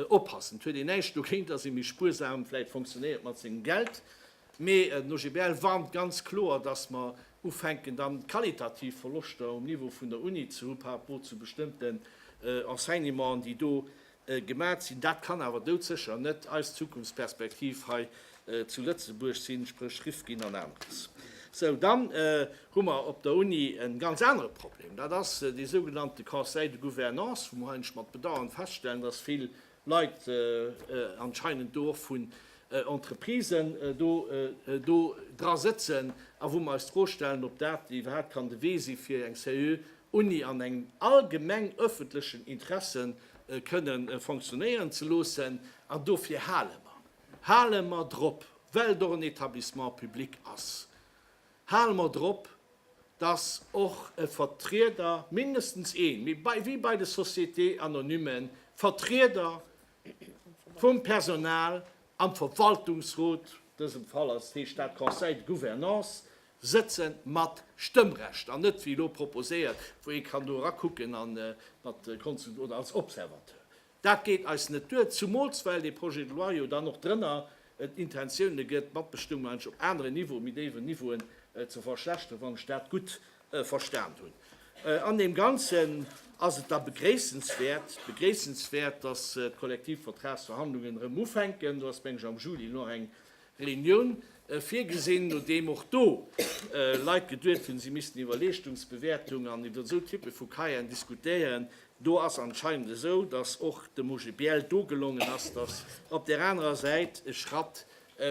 oppassen. Et huet een näischt dogéint, dass ee méi spuersam vläicht fonctionéiert mat sengem Geld, Mee den OGBL warnt ganz kloer, datt mer ufänken dann qualitativ Verloschter um Niveau vun der Uni ze hu par rapport zu bestëmmten Enseignementen, déi do gemat sinn. Dat kann awer doudsécher net eis Zukunftsperspektiv hei zu Lëtzebuerg sinn, spréch Rifkin an aneres. Sou, dann hu mer op der Uni e ganz anere Problem, dat ass dee sougenannte Conseil de Gouvernance, wou mer eigentlech mat Bedauern feststellen, datt vill Leit anscheinend do och vun Entreprisen do dra sëtzen a wou mer eis d'Fro stellen, ob dat iwwerhaapt kann de Wee si fir eng seriö Uni an engem allgemeng öffentlechen Interesse kënne fonctionnéieren ze loossen. An dofir hale mer, hale mer drop, well et och en Etablissement public ass. Hale mer drop, dass och e Vertrieder, mindestens een, mee wéi bei de Sociétés anonymen, Vertrieder vum Personal am Verwaltungsrot, dësem Fall ass heescht dat Conseil de gouvernance, sëtze mat Stëmmrecht an net wéi elo proposéiert, wou ee kann do erakucken a mat Konsul oder als Observateur. Dat geet eis net duer, zumools well dee Projet de loi jo dann och drënner d'Intentioune gëtt, d'Matbestëmmung endlech op aneren Niveau, méi déiwen Niveauen ze verschlechteren, wann ech dat gutt verstan hunn. An deem Ganzen ass et da begréissenswäert, begréissenswäert, dass d'Kollektivvertragsverhandlungen erëm ufänken. Do ass, meng ech, am Juli nach eng Reunioun virgesinn, nodeem och do Leit geduet hunn, si missten iwwer Leeschtungsbewäertung an iwwer esou Typpe vu Cahieren diskutéieren. Do ass anscheinend esou, datt och dem OGBL do gelongen ass, datt op där anerer Säit e Schratt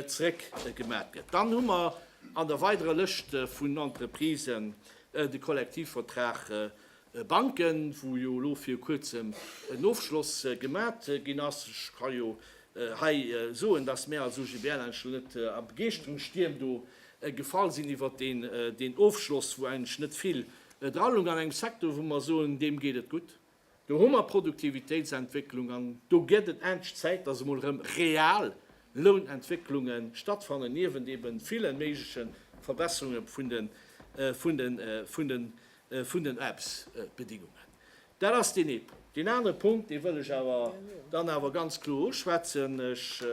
zréck gemat gëtt. Dann hu mer an der weiderer Lëscht vun Entreprisen de Kollektivvertrag Banken, wou jo elo viru kuerzem en Ofschloss gemat ginn ass. Ech ka jo hei soen, dass mär als OGBL eigentlech elo net a Begeeschterungsstierm do gefall sinn iwwert deen Ofschloss, wou eigentlech net vill dra loung an engem Secteur, wou mer soen, deem geet et gutt. Do hu mer Produktivitéitsentwécklung an do gëtt et endlech Zäit, dass emol erëm real Lounentwécklunge stattfannen, niewent ebe ville méigleche Verbesserunge vun de vun den Aarbechtsbedingungen. Dat ass deen ee Punkt. Deen anere Punkt, dee wëll ech awer dann awer ganz kloer uschwätzen. Ech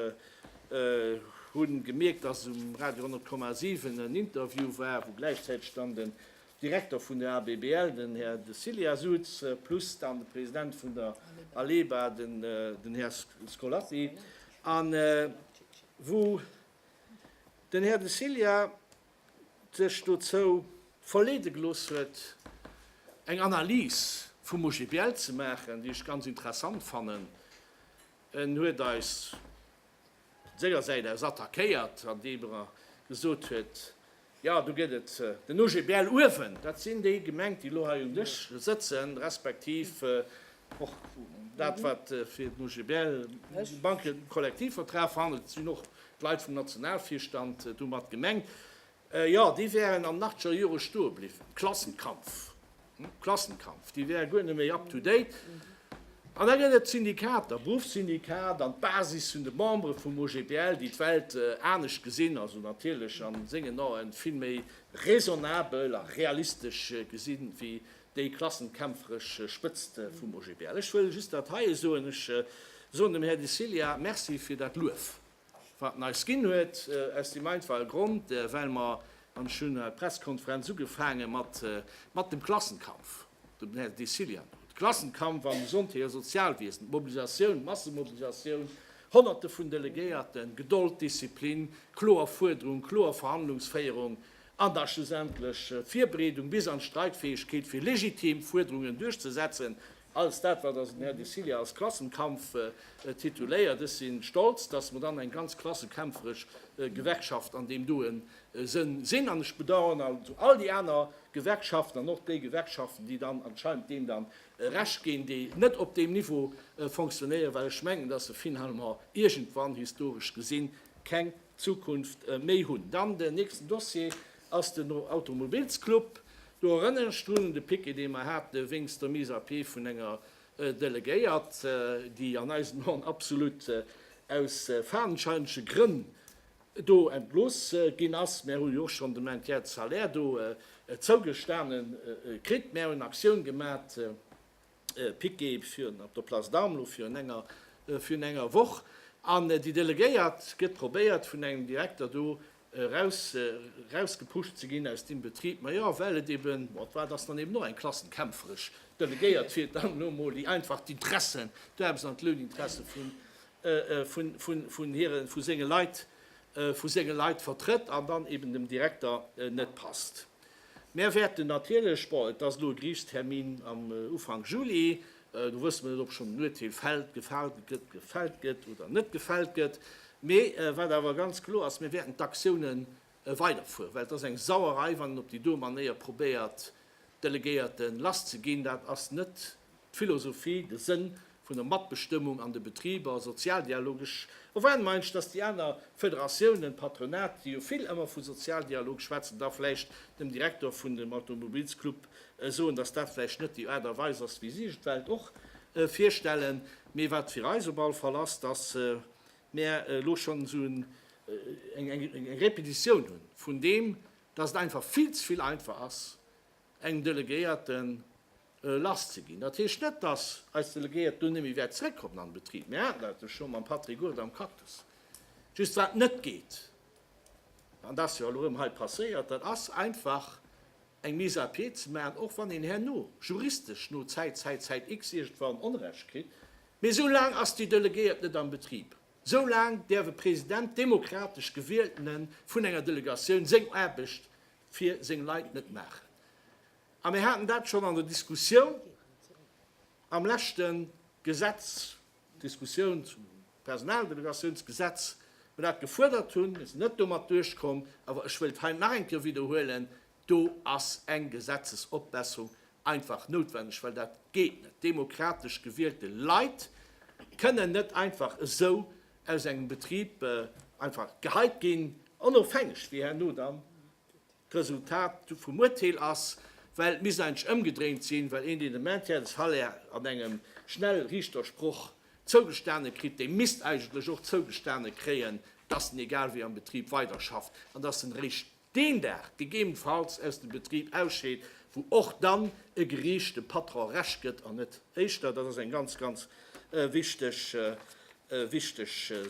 hu gemierkt, dass um Radio 100,7 en Interview war, wou gläichzäiteg dann den Direkter vun der ABBL, den Här De Cillia souz, plus dann de President vun der ALEBA, den Här Scolatti, an wou den Här De Cillia, sech dozou verleede gelooss huet, eng Analys vum OGBL ze maachen, déi ech ganz interessant fannen. En huet eis sengersäit aus attackéiert, andeem e gesot huet, Jo, do gëtt et den OGBL uewen, dat sinn déi Gemeng, déi elo hei um Dësch sëtzen, respektiv Och dat, wat fir den OGBL de Bankekollektivvertrag verhandelt, sinn och d'Leit vum Nationalvirstand domat gemengt. Jo, déi wären an den achteger Jore stoe bliwwen. Klassenkampf, Klassenkampf, déi wäre guer net méi up to date. An da gëtt et d'Syndikater, d'Beruffssyndikat an d'Basis vun de Membere vum OGBL, déi d'Welt anescht gesinn, also natierlech a sengen Ae vill méi raisonnabel a realistesch gesinn, wéi Déi klassenkämpferesch Spëtzt vum OGBL. Ech wëll just dat heie soen, ech soen dem Här Dicillia Merci fir dat Luef, wat en eis ginn huet, aus deem einfache Grond, well mer, an ech hunn d'Pressekonferenz ugefaange mat dem Klassenkampf, dem Här Dicillia no, de Klassenkampf am Gesondheet a Sozialwiesen, d'Mobilisatioun, d'Massemobilisatioun, Honnerte vun Delegéierten, Gedold, Disziplin, kloer Fuerderung, kloer Verhandlungsféierung, an der schlussendlech Virbereedung bis an d'Streikfäegkeet fir legitim Fuerderungen duerchzesetzen, alles dat wat also den Här de Cilia als Klassenkampf tituléiert. Ech si stolz, datt mer dann eng ganz klassekämpferesch Gewerkschaft an deem doe Sënn sinn an ech bedauern also all déi aner Gewerkschaften an och déi Gewerkschaften, déi dann anscheinend deem dann Recht ginn, déi net op deem Niveau fonctionnéieren, well ech mengen, datt se finalement iergendwann historesch gesinn keng Zukunft méi hunn. Dann den nächsten Dossier ass den Automobilsclub. Do erënneren ech drun, un de Piquet, dee mer hate wéinst der Mise à pied vun enger Delegéiert, déi an eisen Aen absolut aus fadenscheinege Grënn do entlooss ginn ass. Mär hu jo och schonn de Maintien de salaire do zougestane kritt. Mär hunn Aktioun gemat. Piqué virn op der Place d'Armes virn enger Woch an déi Delegéiert get probéiert vun engem Direkter do eraus gepuscht ze gin aus deem Betrib. Majo well et eben, bon d'war ass dann eben och eng klassenkämpferesch Delegéiert fir dann lo mol déi einfach d'Interessen, d'Werbs an d'Louninteressen vu senge Leit vertrëtt an dann eben dem Direkter net passt. Mär wäerten natierlech, bon, et ass elo e Geriichtstermin am Ufank Juli, do wësse mer net, ob schonn en Urteel fällt, gefalt gëtt, gefällt gëtt oder net gefällt gëtt. Mee wat awer ganz kloer ass, mir wäerten d'Aktiounen weiderfueren, well et ass eng Sauerei, wann een op déi doe Manéier probéiert, Delegéierten lasszeginn. Dat ass net D'Philosophie, de Sënn vun der Matbestëmmung an de Betriber, Sozialdialog, ech erwaarden mer eigentlech, datt déi aner Federatiounen, Patronat, déi jo vill ëmmer vu Sozialdialog schwätzen, da vläicht dem Direktor vun dem Automobilsclub soen, datt dat vläicht net déi Aart a Weis ass, wéi si sech d'Welt och virstellen. Mee wat fir eis op alle Fall ass, datt mär elo schonn esou eng Repetitioun hu vun deem, datt et einfach vill ze vill einfach ass, engem Delegéierten, lass ze ginn. Dat heescht net, dass eis Delegéiert do nëmme wäert zréckkommen an de Betrib. Mir haten dat elo scho mam Patrick Goerter am Cactus. Just wat net geet, an dat ass jo elo erëm hei passéiert, dat ass einfach eng Mise à pied ze maachen, och wann een herno juristesch no Zäit, Zäit, Zäit X iergendwann Onrecht kritt, mee esou laang ass déi Delegéiert net am Betrib, esou laang däerf e President, demokratesch gewieltene vun enger Delegatioun, seng Aarbecht fir seng Leit net maachen. A mir haten dat schonn an der Diskussioun am leschte Gesetz, Diskussioun zum Personaldelegatiounsgesetz, wou mer dat gefuerdert hunn. Mir sinn net domat duerchkomm. Awer ech wëllt hei nach eng Kéier widderhuelen, Do ass eng Gesetzesopbesserung einfach noutwendeg, well dat geet net. Demokratesch gewielte Leit kënnen net einfach esou aus engem Betrib einfach geheit ginn, onofhängeg wéi herno dann D'Resultat vum Urteel ass, well et misst eigentlech ëmgedréint sinn, well een, deen de Maintien de salaire an engem Schnellrichtersproch zougestane kritt, dee misst eigentlech och zougestane kréien, dass en egal wéi am Betrib weiderschafft an dass en eréischt deen Dag gegebenfalls aus dem Betrib ausscheet, wou och dann e Gericht dem Patron Recht gëtt an net éischter. Dat ass eng ganz, ganz wichteg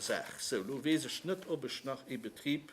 Saach. Sou, elo weess ech net, ob ech nach ee Betrib.